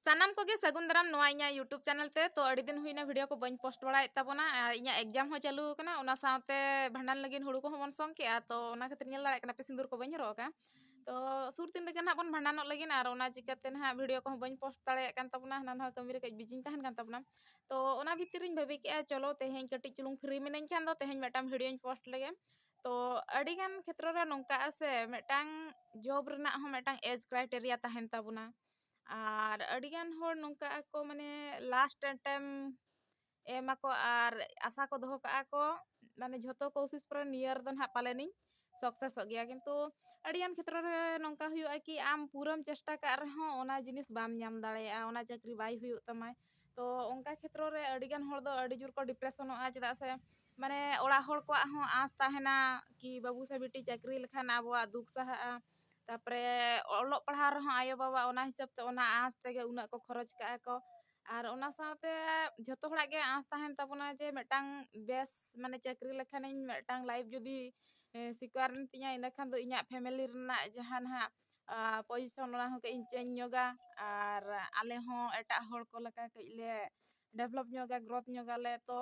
ᱥᱟᱱᱟᱢ ᱠᱚᱜᱮ ᱥᱟᱹᱜᱩᱱ ᱫᱟᱨᱟᱢ ᱱᱚᱣᱟ ᱤᱧᱟᱹᱜ ᱭᱩᱴᱩᱵᱽ ᱪᱮᱱᱮᱞ ᱛᱮ ᱛᱚ ᱟᱹᱰᱤ ᱫᱤᱱ ᱦᱩᱭᱱᱟ ᱵᱷᱤᱰᱤᱭᱳ ᱠᱚ ᱵᱟᱹᱧ ᱯᱳᱥᱴ ᱵᱟᱲᱟᱭᱮᱫ ᱛᱟᱵᱚᱱᱟ ᱟᱨ ᱤᱧᱟᱹᱜ ᱮᱠᱡᱟᱢ ᱦᱚᱸ ᱪᱟᱹᱞᱩ ᱟᱠᱟᱱᱟ ᱚᱱᱟ ᱥᱟᱶᱛᱮ ᱵᱷᱟᱸᱰᱟᱱ ᱞᱟᱹᱜᱤᱫ ᱦᱩᱲᱩ ᱠᱚᱦᱚᱸ ᱵᱚᱱ ᱥᱚᱝ ᱠᱮᱜᱼᱟ ᱛᱚ ᱚᱱᱟ ᱠᱷᱟᱹᱛᱤᱨ ᱧᱮᱞ ᱫᱟᱲᱮᱭᱟᱜ ᱠᱟᱱᱟ ᱯᱮ ᱥᱤᱸᱫᱩᱨ ᱠᱚ ᱵᱟᱹᱧ ᱦᱚᱨᱚᱜ ᱟᱠᱟᱫᱼᱟ ᱛᱚ ᱥᱩᱨ ᱫᱤᱱ ᱨᱮᱜᱮ ᱱᱟᱦᱟᱜ ᱵᱚᱱ ᱵᱷᱟᱸᱰᱟᱱᱚᱜ ᱞᱟᱹᱜᱤᱫ ᱟᱨ ᱚᱱᱟ ᱪᱤᱠᱟᱹᱛᱮ ᱱᱟᱦᱟᱜ ᱵᱷᱤᱰᱤᱭᱳ ᱠᱚᱦᱚᱸ ᱵᱟᱹᱧ ᱯᱳᱥᱴ ᱫᱟᱲᱮᱭᱟᱜ ᱠᱟᱱ ᱛᱟᱵᱚᱱᱟ ᱦᱟᱱᱟ ᱱᱚᱣᱟ ᱠᱟᱹᱢᱤ ᱨᱮ ᱠᱟᱹᱡ ᱵᱤᱡᱤᱧ ᱛᱟᱦᱮᱱ ᱠᱟᱱ ᱛᱟᱵᱚᱱᱟ ᱛᱚ ᱚᱱᱟ ᱵᱷᱤᱛᱤᱨ ᱨᱤᱧ ᱵᱷᱟᱹᱵᱤ ᱠᱮᱜᱼᱟ ᱪᱚᱞᱚ ᱛᱮᱦᱮᱧ ᱠᱟᱹᱴᱤᱡ ᱪᱩᱞᱩᱝ ᱯᱷᱨᱤ ᱢᱤᱱᱟᱹᱧ ᱠᱷᱟᱱ ᱫᱚ ᱛᱮᱦᱮᱧ ᱢᱤᱫᱴᱟᱝ ᱵᱷᱤᱰᱤᱭᱳᱧ ᱯᱳᱥᱴ ᱞᱮᱜᱮ ᱛᱚ ᱟᱹᱰᱤ ᱜᱟᱱ ᱠᱷᱮᱛᱨᱚ ᱨᱮ ᱱᱚᱝᱠᱟᱜᱼᱟ ᱥᱮ ᱢᱤᱫᱴᱟᱝ ᱡᱚᱵ ᱨᱮᱱᱟᱜ ᱦᱚᱸ ᱢᱤᱫᱴᱟᱝ ᱮᱡᱽ ᱠᱨᱟᱭᱴᱮᱨᱤᱭᱟ ᱛᱟᱦᱮᱱ ᱛᱟᱵᱚᱱᱟ ᱟᱨ ᱟᱹᱰᱤ ᱜᱟᱱ ᱦᱚᱲ ᱱᱚᱝᱠᱟᱜ ᱟᱠᱚ ᱢᱟᱱᱮ ᱞᱟᱥᱴ ᱮᱴᱮᱢ ᱮᱢ ᱟᱠᱚ ᱟᱨ ᱟᱥᱟ ᱠᱚ ᱫᱚᱦᱚ ᱠᱟᱜᱼᱟ ᱠᱚ ᱢᱟᱱᱮ ᱡᱷᱚᱛᱚ ᱠᱳᱥᱤᱥ ᱯᱚᱨᱮ ᱱᱤᱭᱟᱹ ᱨᱮᱫᱚ ᱦᱟᱸᱜ ᱯᱟᱞᱮᱱᱤᱧ ᱥᱟᱠᱥᱮᱥᱚᱜ ᱜᱮᱭᱟ ᱠᱤᱱᱛᱩ ᱟᱹᱰᱤ ᱜᱟᱱ ᱠᱷᱮᱛᱨᱚ ᱨᱮ ᱱᱚᱝᱠᱟ ᱦᱩᱭᱩᱜᱼᱟ ᱠᱤ ᱟᱢ ᱯᱩᱨᱟᱹᱢ ᱪᱮᱥᱴᱟ ᱠᱟᱜ ᱨᱮᱦᱚᱸ ᱚᱱᱟ ᱡᱤᱱᱤᱥ ᱵᱟᱢ ᱧᱟᱢ ᱫᱟᱲᱮᱭᱟᱜᱼᱟ ᱚᱱᱟ ᱪᱟᱹᱠᱨᱤ ᱵᱟᱭ ᱦᱩᱭᱩᱜ ᱛᱟᱢᱟ ᱛᱚ ᱚᱱᱠᱟ ᱠᱷᱮᱛᱨᱚ ᱨᱮ ᱟᱹᱰᱤ ᱜᱟᱱ ᱦᱚᱲ ᱫᱚ ᱟᱹᱰᱤ ᱡᱳᱨ ᱠᱚ ᱰᱤᱯᱨᱮᱥᱚᱱᱚᱜᱼᱟ ᱪᱮᱫᱟᱜ ᱥᱮ ᱢᱟᱱᱮ ᱚᱲᱟᱜ ᱦᱚᱲ ᱠᱚᱣᱟᱜ ᱦᱚᱸ ᱟᱸᱥ ᱛᱟᱦᱮᱱᱟ ᱠᱤ ᱵᱟᱹᱵᱩ ᱥᱮ ᱵᱤᱴᱤ ᱪᱟᱹᱠᱨᱤ ᱞᱮᱠᱷᱟᱱ ᱟᱵᱚᱣᱟᱜ ᱫᱩᱠ ᱥᱟᱦᱟᱜᱼᱟ ᱛᱟᱨᱯᱚᱨᱮ ᱚᱞᱚᱜ ᱯᱟᱲᱦᱟᱣ ᱨᱮᱦᱚᱸ ᱟᱭᱳ ᱵᱟᱵᱟ ᱚᱱᱟ ᱦᱤᱥᱟᱹᱵ ᱛᱮ ᱚᱱᱟ ᱟᱸᱥ ᱛᱮᱜᱮ ᱩᱱᱟᱹᱜ ᱠᱚ ᱠᱷᱚᱨᱚᱪ ᱠᱟᱜᱼᱟ ᱠᱚ ᱟᱨ ᱚᱱᱟ ᱥᱟᱶᱛᱮ ᱡᱷᱚᱛᱚ ᱦᱚᱲᱟᱜ ᱜᱮ ᱟᱸᱥ ᱛᱟᱦᱮᱱ ᱛᱟᱵᱚᱱᱟ ᱡᱮ ᱢᱤᱫᱴᱟᱝ ᱵᱮᱥ ᱢᱟᱱᱮ ᱪᱟᱹᱠᱨᱤ ᱞᱮᱠᱷᱟᱱᱤᱧ ᱢᱤᱫᱴᱟᱝ ᱞᱟᱭᱤᱯᱷ ᱡᱩᱫᱤ ᱥᱤᱠᱟᱨ ᱮᱱ ᱛᱤᱧᱟ ᱤᱱᱟᱹ ᱠᱷᱟᱱ ᱫᱚ ᱤᱧᱟᱹᱜ ᱯᱷᱮᱢᱮᱞᱤ ᱨᱮᱱᱟᱜ ᱡᱟᱦᱟᱸ ᱱᱟᱦᱟᱜ ᱯᱚᱡᱤᱥᱚᱱ ᱚᱱᱟ ᱦᱚᱸ ᱠᱟᱹᱡ ᱤᱧ ᱪᱮᱧᱡᱽ ᱧᱚᱜᱟ ᱟᱨ ᱟᱞᱮ ᱦᱚᱸ ᱮᱴᱟᱜ ᱦᱚᱲ ᱠᱚ ᱞᱮᱠᱟ ᱠᱟᱹᱡ ᱞᱮ ᱰᱮᱵᱷᱞᱚᱯ ᱧᱚᱜᱟ ᱜᱨᱳᱛᱷ ᱧᱚᱜᱽ ᱟᱞᱮ ᱛᱚ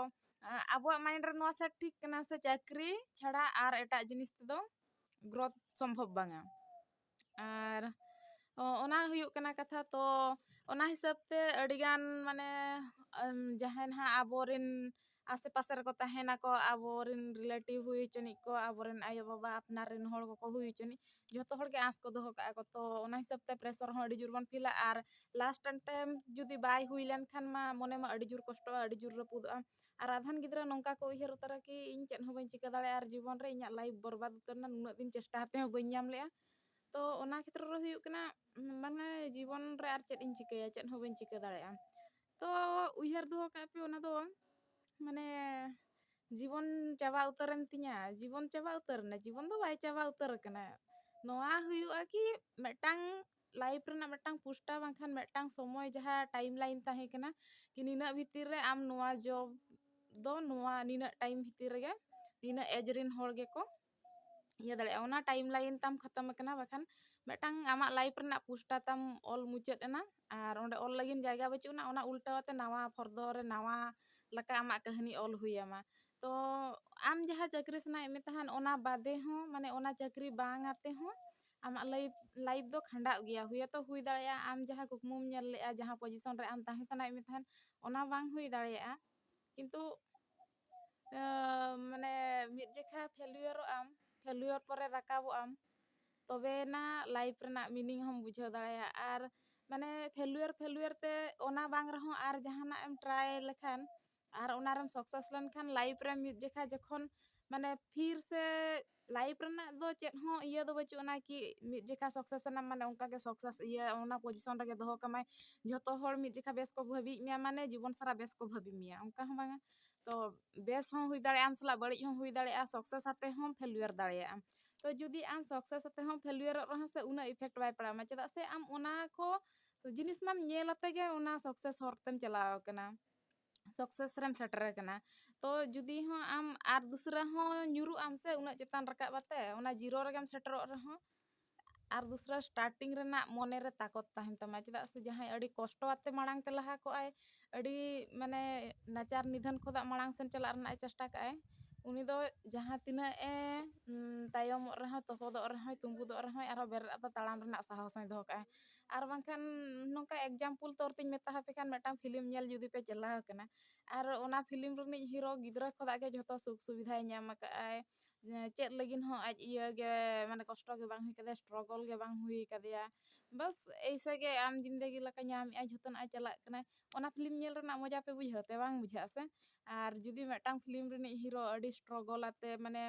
ᱟᱵᱚᱣᱟᱜ ᱢᱟᱭᱤᱱᱰ ᱨᱮ ᱱᱚᱣᱟ ᱥᱮᱴ ᱴᱷᱤᱠ ᱠᱟᱱᱟ ᱥᱮ ᱪᱟᱹᱠᱨᱤ ᱪᱷᱟᱲᱟ ᱟᱨ ᱮᱴᱟᱜ ᱡᱤᱱᱤᱥ ᱛᱮᱫᱚ ᱜᱨᱳᱛᱷ ᱥᱚᱢᱵᱷᱚᱵ ᱵᱟᱝᱟ ᱟᱨ ᱚᱱᱟ ᱦᱩᱭᱩᱜ ᱠᱟᱱᱟ ᱠᱟᱛᱷᱟ ᱛᱚ ᱚᱱᱟ ᱦᱤᱥᱟᱹᱵ ᱛᱮ ᱟᱹᱰᱤᱜᱟᱱ ᱢᱟᱱᱮ ᱡᱟᱦᱟᱸᱭ ᱱᱟᱦᱟᱜ ᱟᱵᱚᱨᱮᱱ ᱟᱥᱮ ᱯᱟᱥᱮ ᱨᱮᱠᱚ ᱛᱟᱦᱮᱱᱟᱠᱚ ᱟᱵᱚᱨᱮᱱ ᱨᱤᱞᱮᱴᱤᱵᱷ ᱦᱩᱭ ᱦᱚᱪᱚᱱᱤᱡ ᱠᱚ ᱟᱵᱚᱨᱮᱱ ᱟᱭᱳ ᱵᱟᱵᱟ ᱟᱯᱱᱟᱨ ᱨᱮᱱ ᱦᱚᱲ ᱠᱚᱠᱚ ᱦᱩᱭ ᱦᱚᱪᱚᱱᱤᱡ ᱡᱷᱚᱛᱚ ᱦᱚᱲ ᱜᱮ ᱟᱸᱥ ᱠᱚ ᱫᱚᱦᱚ ᱠᱟᱜᱼᱟ ᱠᱚ ᱛᱚ ᱚᱱᱟ ᱦᱤᱥᱟᱹᱵ ᱛᱮ ᱯᱨᱮᱥᱚᱨ ᱦᱚᱸ ᱟᱹᱰᱤ ᱡᱳᱨ ᱵᱚᱱ ᱯᱷᱤᱞᱟ ᱟᱨ ᱞᱟᱥᱴ ᱮᱱᱰ ᱴᱟᱭᱤᱢ ᱡᱩᱫᱤ ᱵᱟᱭ ᱦᱩᱭ ᱞᱮᱱ ᱠᱷᱟᱱ ᱢᱟ ᱢᱚᱱᱮ ᱢᱟ ᱟᱹᱰᱤ ᱡᱳᱨ ᱠᱚᱥᱴᱚᱜᱼᱟ ᱟᱹᱰᱤ ᱡᱳᱨ ᱨᱟᱹᱯᱩᱫᱚᱜᱼᱟ ᱟᱨ ᱟᱫᱷᱟᱱ ᱜᱤᱫᱽᱨᱟᱹ ᱱᱚᱝᱠᱟ ᱠᱚ ᱩᱭᱦᱟᱹᱨ ᱩᱛᱟᱹᱨᱟ ᱠᱤ ᱤᱧ ᱪᱮᱫ ᱦᱚᱸ ᱵᱟᱹᱧ ᱪᱤᱠᱟᱹ ᱫᱟᱲᱮᱭᱟᱜᱼᱟ ᱟᱨ ᱡᱤᱵᱚᱱ ᱨᱮ ᱤᱧᱟᱹᱜ ᱞᱟᱭᱤᱯᱷ ᱵᱚᱨᱵᱟᱫᱽ ᱩᱛᱟᱹᱨ ᱮᱱᱟ ᱱᱩᱱᱟᱹᱜ ᱫᱤᱱ ᱪᱮᱥᱴᱟ ᱠᱟᱛᱮ ᱦᱚᱸ ᱵᱟᱹᱧ ᱧᱟᱢ ᱞᱮᱜᱼᱟ ᱛᱚ ᱚᱱᱟ ᱠᱷᱮᱛᱨᱚ ᱨᱮ ᱦᱩᱭᱩᱜ ᱠᱟᱱᱟ ᱢᱟᱱᱮ ᱡᱤᱵᱚᱱ ᱨᱮ ᱟᱨ ᱪᱮᱫ ᱤᱧ ᱪᱤᱠᱟᱹᱭᱟ ᱪᱮᱫ ᱦᱚᱸ ᱵᱟᱹᱧ ᱪᱤᱠᱟᱹ ᱫᱟᱲᱮᱭᱟᱜᱼᱟ ᱛᱚ ᱩᱭᱦᱟᱹᱨ ᱫᱚᱦᱚ ᱠᱟᱜ ᱯᱮ ᱚᱱᱟ ᱫᱚ ᱢᱟᱱᱮ ᱡᱤᱵᱚᱱ ᱪᱟᱵᱟ ᱩᱛᱟᱹᱨᱮᱱ ᱛᱤᱧᱟᱹ ᱡᱤᱵᱚᱱ ᱪᱟᱵᱟ ᱩᱛᱟᱹᱨᱮᱱᱟ ᱡᱤᱵᱚᱱ ᱫᱚ ᱵᱟᱭ ᱪᱟᱵᱟ ᱩᱛᱟᱹᱨ ᱟᱠᱟᱱᱟ ᱱᱚᱣᱟ ᱦᱩᱭᱩᱜᱼᱟ ᱠᱤ ᱢᱤᱫᱴᱟᱝ ᱞᱟᱭᱤᱯᱷ ᱨᱮᱱᱟᱜ ᱢᱤᱫᱴᱟᱝ ᱯᱩᱥᱴᱟᱹᱣ ᱵᱟᱝᱠᱷᱟᱱ ᱢᱤᱫᱴᱟᱝ ᱥᱚᱢᱚᱭ ᱡᱟᱦᱟᱸ ᱴᱟᱭᱤᱢ ᱞᱟᱭᱤᱱ ᱛᱟᱦᱮᱸ ᱠᱟᱱᱟ ᱠᱤ ᱱᱤᱱᱟᱹᱜ ᱵᱷᱤᱛᱤᱨ ᱨᱮ ᱟᱢ ᱱᱚᱣᱟ ᱡᱚᱵ ᱫᱚ ᱱᱚᱣᱟ ᱱᱤᱱᱟᱹᱜ ᱴᱟᱭᱤᱢ ᱵᱷᱤᱛᱤᱨ ᱨᱮᱜᱮ ᱱᱤᱱᱟᱹᱜ ᱮᱡᱽ ᱨᱮᱱ ᱦᱚᱲ ᱜᱮᱠᱚ ᱤᱭᱟᱹ ᱫᱟᱲᱮᱭᱟᱜᱼᱟ ᱚᱱᱟ ᱴᱟᱭᱤᱢ ᱞᱟᱭᱤᱱ ᱛᱟᱢ ᱠᱷᱟᱛᱚᱢ ᱟᱠᱟᱱᱟ ᱵᱟᱠᱷᱟᱱ ᱢᱤᱫᱴᱟᱝ ᱟᱢᱟᱜ ᱞᱟᱭᱤᱯᱷ ᱨᱮᱱᱟᱜ ᱯᱩᱥᱴᱟ ᱛᱟᱢ ᱚᱞ ᱢᱩᱪᱟᱹᱫ ᱮᱱᱟ ᱟᱨ ᱚᱸᱰᱮ ᱚᱞ ᱞᱟᱹᱜᱤᱫ ᱡᱟᱭᱜᱟ ᱵᱟᱹᱪᱩᱜ ᱟᱱᱟ ᱚᱱᱟ ᱩᱞᱴᱟᱹᱣ ᱟᱛᱮ ᱱᱟᱣᱟ ᱯᱷᱚᱨᱫᱚ ᱨᱮ ᱱᱟᱣᱟ ᱞᱮᱠᱟ ᱟᱢᱟᱜ ᱠᱟᱹᱦᱱᱤ ᱚᱞ ᱦᱩᱭ ᱟᱢᱟ ᱛᱚ ᱟᱢ ᱡᱟᱦᱟᱸ ᱪᱟᱹᱠᱨᱤ ᱥᱟᱱᱟᱭᱮᱫ ᱢᱮ ᱛᱟᱦᱮᱱ ᱚᱱᱟ ᱵᱟᱫᱮ ᱦᱚᱸ ᱢᱟᱱᱮ ᱚᱱᱟ ᱪᱟᱹᱠᱨᱤ ᱵᱟᱝ ᱟᱛᱮ ᱦᱚᱸ ᱟᱢᱟᱜ ᱞᱟᱭᱤᱯᱷ ᱞᱟᱭᱤᱯᱷ ᱫᱚ ᱠᱷᱟᱸᱰᱟᱜ ᱜᱮᱭᱟ ᱦᱳᱭᱛᱚ ᱦᱩᱭ ᱫᱟᱲᱮᱭᱟᱜᱼᱟ ᱟᱢ ᱡᱟᱦᱟᱸ ᱠᱩᱠᱢᱩᱢ ᱧᱮᱞ ᱞᱮᱜᱼᱟ ᱡᱟᱦᱟᱸ ᱯᱚᱡᱤᱥᱚᱱ ᱨᱮ ᱟᱢ ᱛᱟᱦᱮᱸ ᱥᱟᱱᱟᱭᱮᱫ ᱢᱮ ᱛᱟᱦᱮᱱ ᱚᱱᱟ ᱵᱟᱝ ᱦᱩᱭ ᱫᱟᱲᱮᱭᱟᱜᱼᱟ ᱠᱤᱱᱛᱩ ᱢᱟᱱᱮ ᱢᱤᱫ ᱡᱮᱠᱷᱟ ᱯᱷᱮᱞᱭᱚᱨᱚᱜ ᱟᱢ ᱯᱷᱮᱞᱭᱚᱨ ᱯᱚᱨᱮ ᱨᱟᱠᱟᱵᱚᱜ ᱟᱢ ᱛᱚᱵᱮᱭᱮᱱᱟ ᱞᱟᱭᱤᱯᱷ ᱨᱮᱱᱟᱜ ᱢᱤᱱᱤᱝ ᱦᱚᱢ ᱵᱩᱡᱷᱟᱹᱣ ᱫᱟᱲᱮᱭᱟᱜᱼᱟ ᱟᱨ ᱢᱟᱱᱮ ᱯᱷᱮᱞᱭᱚᱨ ᱯᱷᱮᱞᱭᱚᱨ ᱛᱮ ᱚᱱᱟ ᱵᱟᱝ ᱨᱮᱦᱚᱸ ᱟᱨ ᱡᱟᱦᱟᱱᱟᱜ ᱮᱢ ᱴᱨᱟᱭ ᱞᱮᱠᱷᱟᱱ ᱟᱨ ᱚᱱᱟᱨᱮᱢ ᱥᱟᱠᱥᱮᱥ ᱞᱮᱱᱠᱷᱟᱱ ᱞᱟᱭᱤᱯᱷ ᱨᱮ ᱢᱤᱫ ᱡᱮᱠᱷᱟ ᱡᱚᱠᱷᱚᱱ ᱢᱟᱱᱮ ᱯᱷᱤᱨ ᱥᱮ ᱞᱟᱭᱤᱯᱷ ᱨᱮᱱᱟᱜ ᱫᱚ ᱪᱮᱫ ᱦᱚᱸ ᱤᱭᱟᱹ ᱫᱚ ᱵᱟᱹᱪᱩᱜ ᱟᱱᱟ ᱠᱤ ᱢᱤᱫ ᱡᱚᱠᱷᱟᱡ ᱥᱟᱠᱥᱮᱥ ᱮᱱᱟᱢ ᱢᱟᱱᱮ ᱚᱱᱠᱟ ᱜᱮ ᱥᱟᱠᱥᱮᱥ ᱤᱭᱟᱹ ᱚᱱᱟ ᱯᱚᱡᱤᱥᱚᱱ ᱨᱮᱜᱮ ᱫᱚᱦᱚ ᱠᱟᱢᱟᱭ ᱡᱷᱚᱛᱚ ᱦᱚᱲ ᱢᱤᱫ ᱡᱚᱠᱷᱟᱡ ᱵᱮᱥ ᱠᱚ ᱵᱷᱟᱹᱵᱤᱭᱮᱫ ᱢᱮᱭᱟ ᱢᱟᱱᱮ ᱡᱤᱵᱚᱱ ᱥᱟᱨᱟ ᱵᱮᱥ ᱠᱚ ᱵᱷᱟᱹᱵᱤ ᱢᱮᱭᱟ ᱚᱱᱠᱟ ᱦᱚᱸ ᱵᱟᱝᱟ ᱛᱚ ᱵᱮᱥ ᱦᱚᱸ ᱦᱩᱭ ᱫᱟᱲᱮᱭᱟᱜᱼᱟ ᱟᱢ ᱥᱟᱞᱟᱜ ᱵᱟᱹᱲᱤᱡ ᱦᱚᱸ ᱦᱩᱭ ᱫᱟᱲᱮᱭᱟᱜᱼᱟ ᱥᱟᱠᱥᱮᱥ ᱠᱟᱛᱮ ᱦᱚᱸ ᱯᱷᱮᱞᱭᱩᱭᱟᱨ ᱫᱟᱲᱮᱭᱟᱜ ᱟᱢ ᱛᱚ ᱡᱩᱫᱤ ᱟᱢ ᱥᱟᱠᱥᱮᱥ ᱠᱟᱛᱮ ᱦᱚᱸ ᱯᱷᱮᱞᱭᱩᱭᱟᱨᱚᱜ ᱨᱮᱦᱚᱸ ᱥᱮ ᱩᱱᱟᱹᱜ ᱤᱯᱷᱮᱠᱴ ᱵᱟᱭ ᱯᱟᱲᱟᱣ ᱟᱢᱟ ᱪᱮᱫᱟᱜ ᱥᱮ ᱟᱢ ᱚᱱᱟ ᱠᱚ ᱡᱤᱱᱤᱥ ᱢᱟᱢ ᱧᱮᱞ ᱟᱛᱮ ᱜᱮ ᱚᱱᱟ ᱥᱟᱠᱥᱮᱥ ᱦᱚᱨ ᱛᱮᱢ ᱪᱟᱞᱟᱣ ᱠᱟᱱᱟ ᱥᱟᱠᱥᱮᱥ ᱨᱮᱢ ᱥᱮᱴᱮᱨ ᱟᱠᱟᱱᱟ ᱛᱚ ᱡᱩᱫᱤ ᱦᱚᱸ ᱟᱢ ᱟᱨ ᱫᱩᱥᱨᱟᱹ ᱦᱚᱸ ᱧᱩᱨᱩᱜ ᱟᱢ ᱥᱮ ᱩᱱᱟᱹᱜ ᱪᱮᱛᱟᱱ ᱨᱟᱠᱟᱵ ᱠᱟᱛᱮ ᱚᱱᱟ ᱡᱤᱨᱳ ᱨᱮᱜᱮᱢ ᱥᱮᱴᱮᱨᱚᱜ ᱨᱮᱦᱚᱸ ᱟᱨ ᱫᱩᱥᱨᱟᱹ ᱥᱴᱟᱨᱴᱤᱝ ᱨᱮᱱᱟᱜ ᱢᱚᱱᱮ ᱨᱮ ᱛᱟᱠᱚᱛ ᱛᱟᱦᱮᱱ ᱛᱟᱢᱟ ᱪᱮᱫᱟᱜ ᱥᱮ ᱡᱟᱦᱟᱸᱭ ᱟᱹᱰᱤ ᱠᱚᱥᱴᱚ ᱟᱛᱮ ᱢᱟᱲᱟᱝ ᱛᱮ ᱞᱟᱦᱟ ᱠᱚᱜ ᱟᱭ ᱟᱹᱰᱤ ᱢᱟᱱᱮ ᱱᱟᱪᱟᱨ ᱱᱤᱫᱷᱟᱹᱱ ᱠᱷᱚᱱᱟᱜ ᱢᱟᱲᱟᱝ ᱥᱮᱱ ᱪᱟᱞᱟᱜ ᱨᱮᱱᱟᱜ ᱮ ᱪᱮᱥᱴᱟ ᱠᱟᱜ ᱟᱭ ᱩᱱᱤ ᱫᱚ ᱡᱟᱦᱟᱸ ᱛᱤᱱᱟᱹᱜ ᱮ ᱛᱟᱭᱚᱢᱚᱜ ᱨᱮᱦᱚᱸ ᱛᱚᱯᱚᱫᱚᱜ ᱨᱮᱦᱚᱸᱭ ᱛᱩᱸᱵᱩᱫᱚᱜ ᱨᱮᱦᱚᱸᱭ ᱟᱨᱦᱚᱸ ᱵᱮᱨᱮᱫ ᱠᱟᱛᱮ ᱛᱟᱲᱟᱢ ᱨᱮᱱᱟᱜ ᱥᱟᱦᱚᱥ ᱦᱚᱸᱭ ᱫᱚᱦᱚ ᱠᱟᱜᱼᱟ ᱟᱨ ᱵᱟᱝᱠᱷᱟᱱ ᱱᱚᱝᱠᱟ ᱮᱠᱡᱟᱢᱯᱩᱞ ᱛᱚᱨ ᱛᱤᱧ ᱢᱮᱛᱟ ᱦᱟᱯᱮ ᱠᱷᱟᱱ ᱢᱤᱫᱴᱟᱝ ᱯᱷᱤᱞᱤᱢ ᱧᱮᱞ ᱡᱩᱫᱤ ᱯᱮ ᱪᱟᱞᱟᱣ ᱟᱠᱟᱱᱟ ᱟᱨ ᱚᱱᱟ ᱯᱷᱤᱞᱤᱢ ᱨᱤᱱᱤᱡ ᱦᱤᱨᱳ ᱜᱤᱫᱽᱨᱟᱹ ᱠᱷᱚᱱᱟᱜ ᱜᱮ ᱡᱷᱚᱛᱚ ᱥᱩᱠ ᱥᱩᱵᱤᱫᱷᱟᱭ ᱧᱟᱢ ᱟᱠᱟᱫ ᱟᱭ ᱪᱮᱫ ᱞᱟᱹᱜᱤᱫ ᱦᱚᱸ ᱟᱡ ᱤᱭᱟᱹ ᱜᱮ ᱢᱟᱱᱮ ᱠᱚᱥᱴᱚ ᱜᱮ ᱵᱟᱝ ᱦᱩᱭ ᱟᱠᱟᱫᱮᱭᱟ ᱥᱴᱨᱚᱜᱚᱞ ᱜᱮ ᱵᱟᱝ ᱦᱩᱭ ᱟᱠᱟᱫᱮᱭᱟ ᱵᱟᱥ ᱮᱭᱥᱮ ᱜᱮ ᱟᱢ ᱡᱤᱱᱫᱮᱜᱤ ᱞᱮᱠᱟ ᱧᱟᱢ ᱮᱫᱟᱭ ᱡᱷᱚᱛᱚᱱᱟᱜ ᱮ ᱪᱟᱞᱟᱜ ᱠᱟᱱᱟᱭ ᱚᱱᱟ ᱯᱷᱤᱞᱤᱢ ᱧᱮᱞ ᱨᱮᱱᱟᱜ ᱢᱚᱡᱟ ᱯᱮ ᱵᱩᱡᱷᱟᱹᱣ ᱛᱮ ᱵᱟᱝ ᱵᱩᱡᱷᱟᱹᱜᱼᱟ ᱥᱮ ᱟᱨ ᱡᱩᱫᱤ ᱢᱤᱫᱴᱟᱝ ᱯᱷᱤᱞᱤᱢ ᱨᱤᱱᱤᱡ ᱦᱤᱨᱳ ᱟᱹᱰᱤ ᱥᱴᱨᱚᱜᱚᱞ ᱟᱛᱮ ᱢᱟᱱᱮ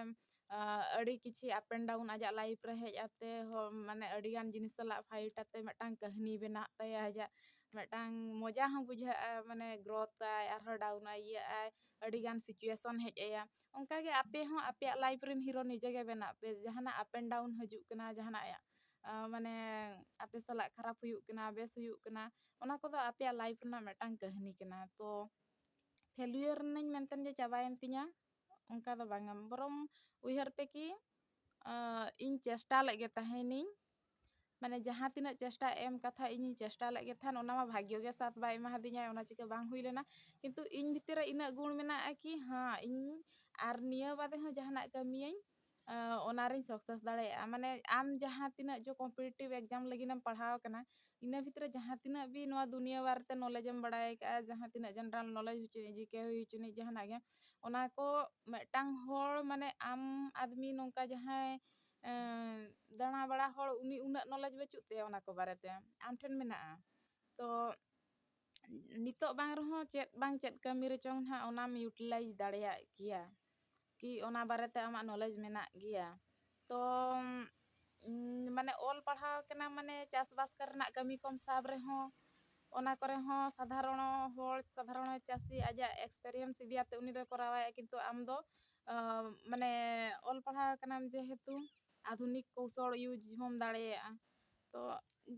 ᱟᱹᱰᱤ ᱠᱤᱪᱷᱤ ᱟᱯ ᱮᱱᱰ ᱰᱟᱣᱩᱱ ᱟᱡᱟᱜ ᱞᱟᱭᱤᱯᱷ ᱨᱮ ᱦᱮᱡ ᱟᱛᱮ ᱦᱚᱸ ᱢᱟᱱᱮ ᱟᱹᱰᱤ ᱜᱟᱱ ᱡᱤᱱᱤᱥ ᱥᱟᱞᱟᱜ ᱯᱷᱟᱭᱤᱴ ᱟᱛᱮ ᱢᱤᱫᱴᱟᱝ ᱠᱟᱹᱦᱱᱤ ᱵᱮᱱᱟᱜ ᱛᱟᱭᱟ ᱟᱡᱟᱜ ᱢᱤᱫᱴᱟᱝ ᱢᱚᱡᱟ ᱦᱚᱸ ᱵᱩᱡᱷᱟᱹᱜᱼᱟ ᱢᱟᱱᱮ ᱜᱨᱳᱛᱷ ᱟᱭ ᱟᱨᱦᱚᱸ ᱰᱟᱣᱩᱱ ᱟᱭ ᱤᱭᱟᱹᱜ ᱟᱭ ᱟᱹᱰᱤ ᱜᱟᱱ ᱥᱤᱪᱩᱭᱮᱥᱚᱱ ᱦᱮᱡ ᱟᱭᱟ ᱚᱱᱠᱟ ᱜᱮ ᱟᱯᱮ ᱦᱚᱸ ᱟᱯᱮᱭᱟᱜ ᱞᱟᱭᱤᱯᱷ ᱨᱮᱱ ᱦᱤᱨᱳ ᱱᱤᱡᱮ ᱜᱮ ᱵᱮᱱᱟᱜ ᱯᱮ ᱡᱟᱦᱟᱱᱟᱜ ᱟᱯ ᱮᱱᱰ ᱰᱟᱣᱩᱱ ᱦᱤᱡᱩᱜ ᱠᱟᱱᱟ ᱡᱟᱦᱟᱱᱟᱜ ᱢᱟᱱᱮ ᱟᱯᱮ ᱥᱟᱞᱟᱜ ᱠᱷᱟᱨᱟᱯ ᱦᱩᱭᱩᱜ ᱠᱟᱱᱟ ᱵᱮᱥ ᱦᱩᱭᱩᱜ ᱠᱟᱱᱟ ᱚᱱᱟ ᱠᱚᱫᱚ ᱟᱯᱮᱭᱟᱜ ᱞᱟᱭᱤᱯᱷ ᱨᱮᱱᱟᱜ ᱢᱤᱫᱴᱟᱝ ᱠᱟᱹᱦᱱᱤ ᱠᱟᱱᱟ ᱛᱚ ᱯᱷᱮᱞᱭᱩᱭᱟᱨ ᱮᱱᱟᱹᱧ ᱢᱮᱱᱛᱮ ᱡᱮ ᱪᱟᱵᱟᱭᱮᱱ ᱛᱤᱧᱟᱹ ᱚᱱᱠᱟ ᱫᱚ ᱵᱟᱝᱟ ᱵᱚᱨᱚᱝ ᱩᱭᱦᱟᱹᱨ ᱯᱮ ᱠᱤ ᱤᱧ ᱪᱮᱥᱴᱟ ᱞᱮᱫ ᱜᱮ ᱛᱟᱦᱮᱱᱤᱧ ᱢᱟᱱᱮ ᱡᱟᱦᱟᱸ ᱛᱤᱱᱟᱹᱜ ᱪᱮᱥᱴᱟ ᱮᱢ ᱠᱟᱛᱷᱟ ᱤᱧᱤᱧ ᱪᱮᱥᱴᱟ ᱞᱮᱫ ᱜᱮ ᱛᱟᱦᱮᱱ ᱚᱱᱟ ᱢᱟ ᱵᱷᱟᱜᱽᱜᱚ ᱜᱮ ᱥᱟᱛᱷ ᱵᱟᱭ ᱮᱢᱟ ᱫᱤᱧᱟᱭ ᱚᱱᱟ ᱪᱤᱠᱟᱹ ᱵᱟᱝ ᱦᱩᱭ ᱞᱮᱱᱟ ᱠᱤᱱᱛᱩ ᱤᱧ ᱵᱷᱤᱛᱤᱨ ᱨᱮ ᱤᱱᱟᱹᱜ ᱜᱩᱱ ᱢᱮᱱᱟᱜᱼᱟ ᱠᱤ ᱦᱮᱸ ᱤᱧ ᱟᱨ ᱱᱤᱭᱟᱹ ᱵᱟᱫᱮ ᱦᱚᱸ ᱡᱟᱦᱟᱱᱟᱜ ᱠᱟᱹᱢᱤᱭᱟᱹᱧ ᱚᱱᱟᱨᱤᱧ ᱥᱟᱠᱥᱮᱥ ᱫᱟᱲᱮᱭᱟᱜᱼᱟ ᱢᱟᱱᱮ ᱟᱢ ᱡᱟᱦᱟᱸ ᱛᱤᱱᱟᱹᱜ ᱡᱮ ᱠᱚᱢᱯᱤᱴᱤᱴᱤᱵᱽ ᱮᱠᱡᱟᱢ ᱞᱟᱹᱜᱤᱫ ᱮᱢ ᱯᱟᱲᱦᱟᱣ ᱟᱠᱟᱱᱟ ᱤᱱᱟᱹ ᱵᱷᱤᱛᱨᱤ ᱨᱮ ᱡᱟᱦᱟᱸ ᱛᱤᱱᱟᱹᱜ ᱜᱮ ᱱᱚᱣᱟ ᱫᱩᱱᱤᱭᱟᱹ ᱵᱟᱨᱮᱛᱮ ᱱᱚᱞᱮᱡᱽ ᱮᱢ ᱵᱟᱲᱟᱭ ᱟᱠᱟᱫᱼᱟ ᱡᱟᱦᱟᱸ ᱛᱤᱱᱟᱹᱜ ᱡᱮᱱᱟᱨᱮᱞ ᱱᱚᱞᱮᱡᱽ ᱦᱩᱭ ᱦᱚᱪᱚᱱᱤᱡ ᱡᱤᱠᱮ ᱦᱩᱭ ᱦᱚᱪᱚᱱᱤᱡ ᱡᱟᱦᱟᱱᱟᱜ ᱜᱮ ᱚᱱᱟ ᱠᱚ ᱢᱤᱫᱴᱟᱝ ᱦᱚᱲ ᱢᱟᱱᱮ ᱟᱢ ᱟᱫᱽᱢᱤ ᱱᱚᱝᱠᱟ ᱡᱟᱦᱟᱸᱭ ᱫᱟᱬᱟ ᱵᱟᱲᱟ ᱦᱚᱲ ᱩᱱᱤ ᱩᱱᱟᱹᱜ ᱱᱚᱞᱮᱡᱽ ᱵᱟᱹᱪᱩᱜ ᱛᱟᱭᱟ ᱚᱱᱟ ᱠᱚ ᱵᱟᱨᱮᱛᱮ ᱟᱢ ᱴᱷᱮᱱ ᱢᱮᱱᱟᱜᱼᱟ ᱛᱚ ᱱᱤᱛᱚᱜ ᱵᱟᱝ ᱨᱮᱦᱚᱸ ᱪᱮᱫ ᱵᱟᱝ ᱪᱮᱫ ᱠᱟᱹᱢᱤ ᱨᱮᱪᱚᱝ ᱱᱟᱦᱟᱜ ᱚᱱᱟᱢ ᱤᱭᱩᱴᱤᱞᱟᱭᱤᱡᱽ ᱫᱟᱲᱮᱭᱟᱜ ᱜᱮᱭᱟ ᱠᱤ ᱚᱱᱟ ᱵᱟᱨᱮᱛᱮ ᱟᱢᱟᱜ ᱱᱚᱞᱮᱡᱽ ᱢᱮᱱᱟᱜ ᱜᱮᱭᱟ ᱛᱚ ᱢᱟᱱᱮ ᱚᱞ ᱯᱟᱲᱦᱟᱣ ᱠᱟᱱᱟᱢ ᱢᱟᱱᱮ ᱪᱟᱥ ᱵᱟᱥ ᱠᱚᱨᱮᱱᱟᱜ ᱠᱟᱹᱢᱤ ᱠᱚᱢ ᱥᱟᱵ ᱨᱮᱦᱚᱸ ᱚᱱᱟ ᱠᱚᱨᱮ ᱦᱚᱸ ᱥᱟᱫᱷᱟᱨᱚᱱᱚ ᱦᱚᱲ ᱥᱟᱫᱷᱟᱨᱚᱱᱚ ᱪᱟᱹᱥᱤ ᱟᱡᱟᱜ ᱮᱠᱥᱯᱮᱨᱤᱭᱮᱱᱥ ᱤᱫᱤᱭᱟᱛᱮ ᱩᱱᱤ ᱫᱚᱭ ᱠᱚᱨᱟᱣᱟᱭ ᱠᱤᱱᱛᱩ ᱟᱢ ᱫᱚ ᱢᱟᱱᱮ ᱚᱞ ᱯᱟᱲᱦᱟᱣ ᱠᱟᱱᱟᱢ ᱡᱮᱦᱮᱛᱩ ᱟᱫᱷᱩᱱᱤᱠ ᱠᱳᱣᱥᱚᱞ ᱤᱭᱩᱡᱽ ᱦᱚᱸᱢ ᱫᱟᱲᱮᱭᱟᱜᱼᱟ ᱛᱚ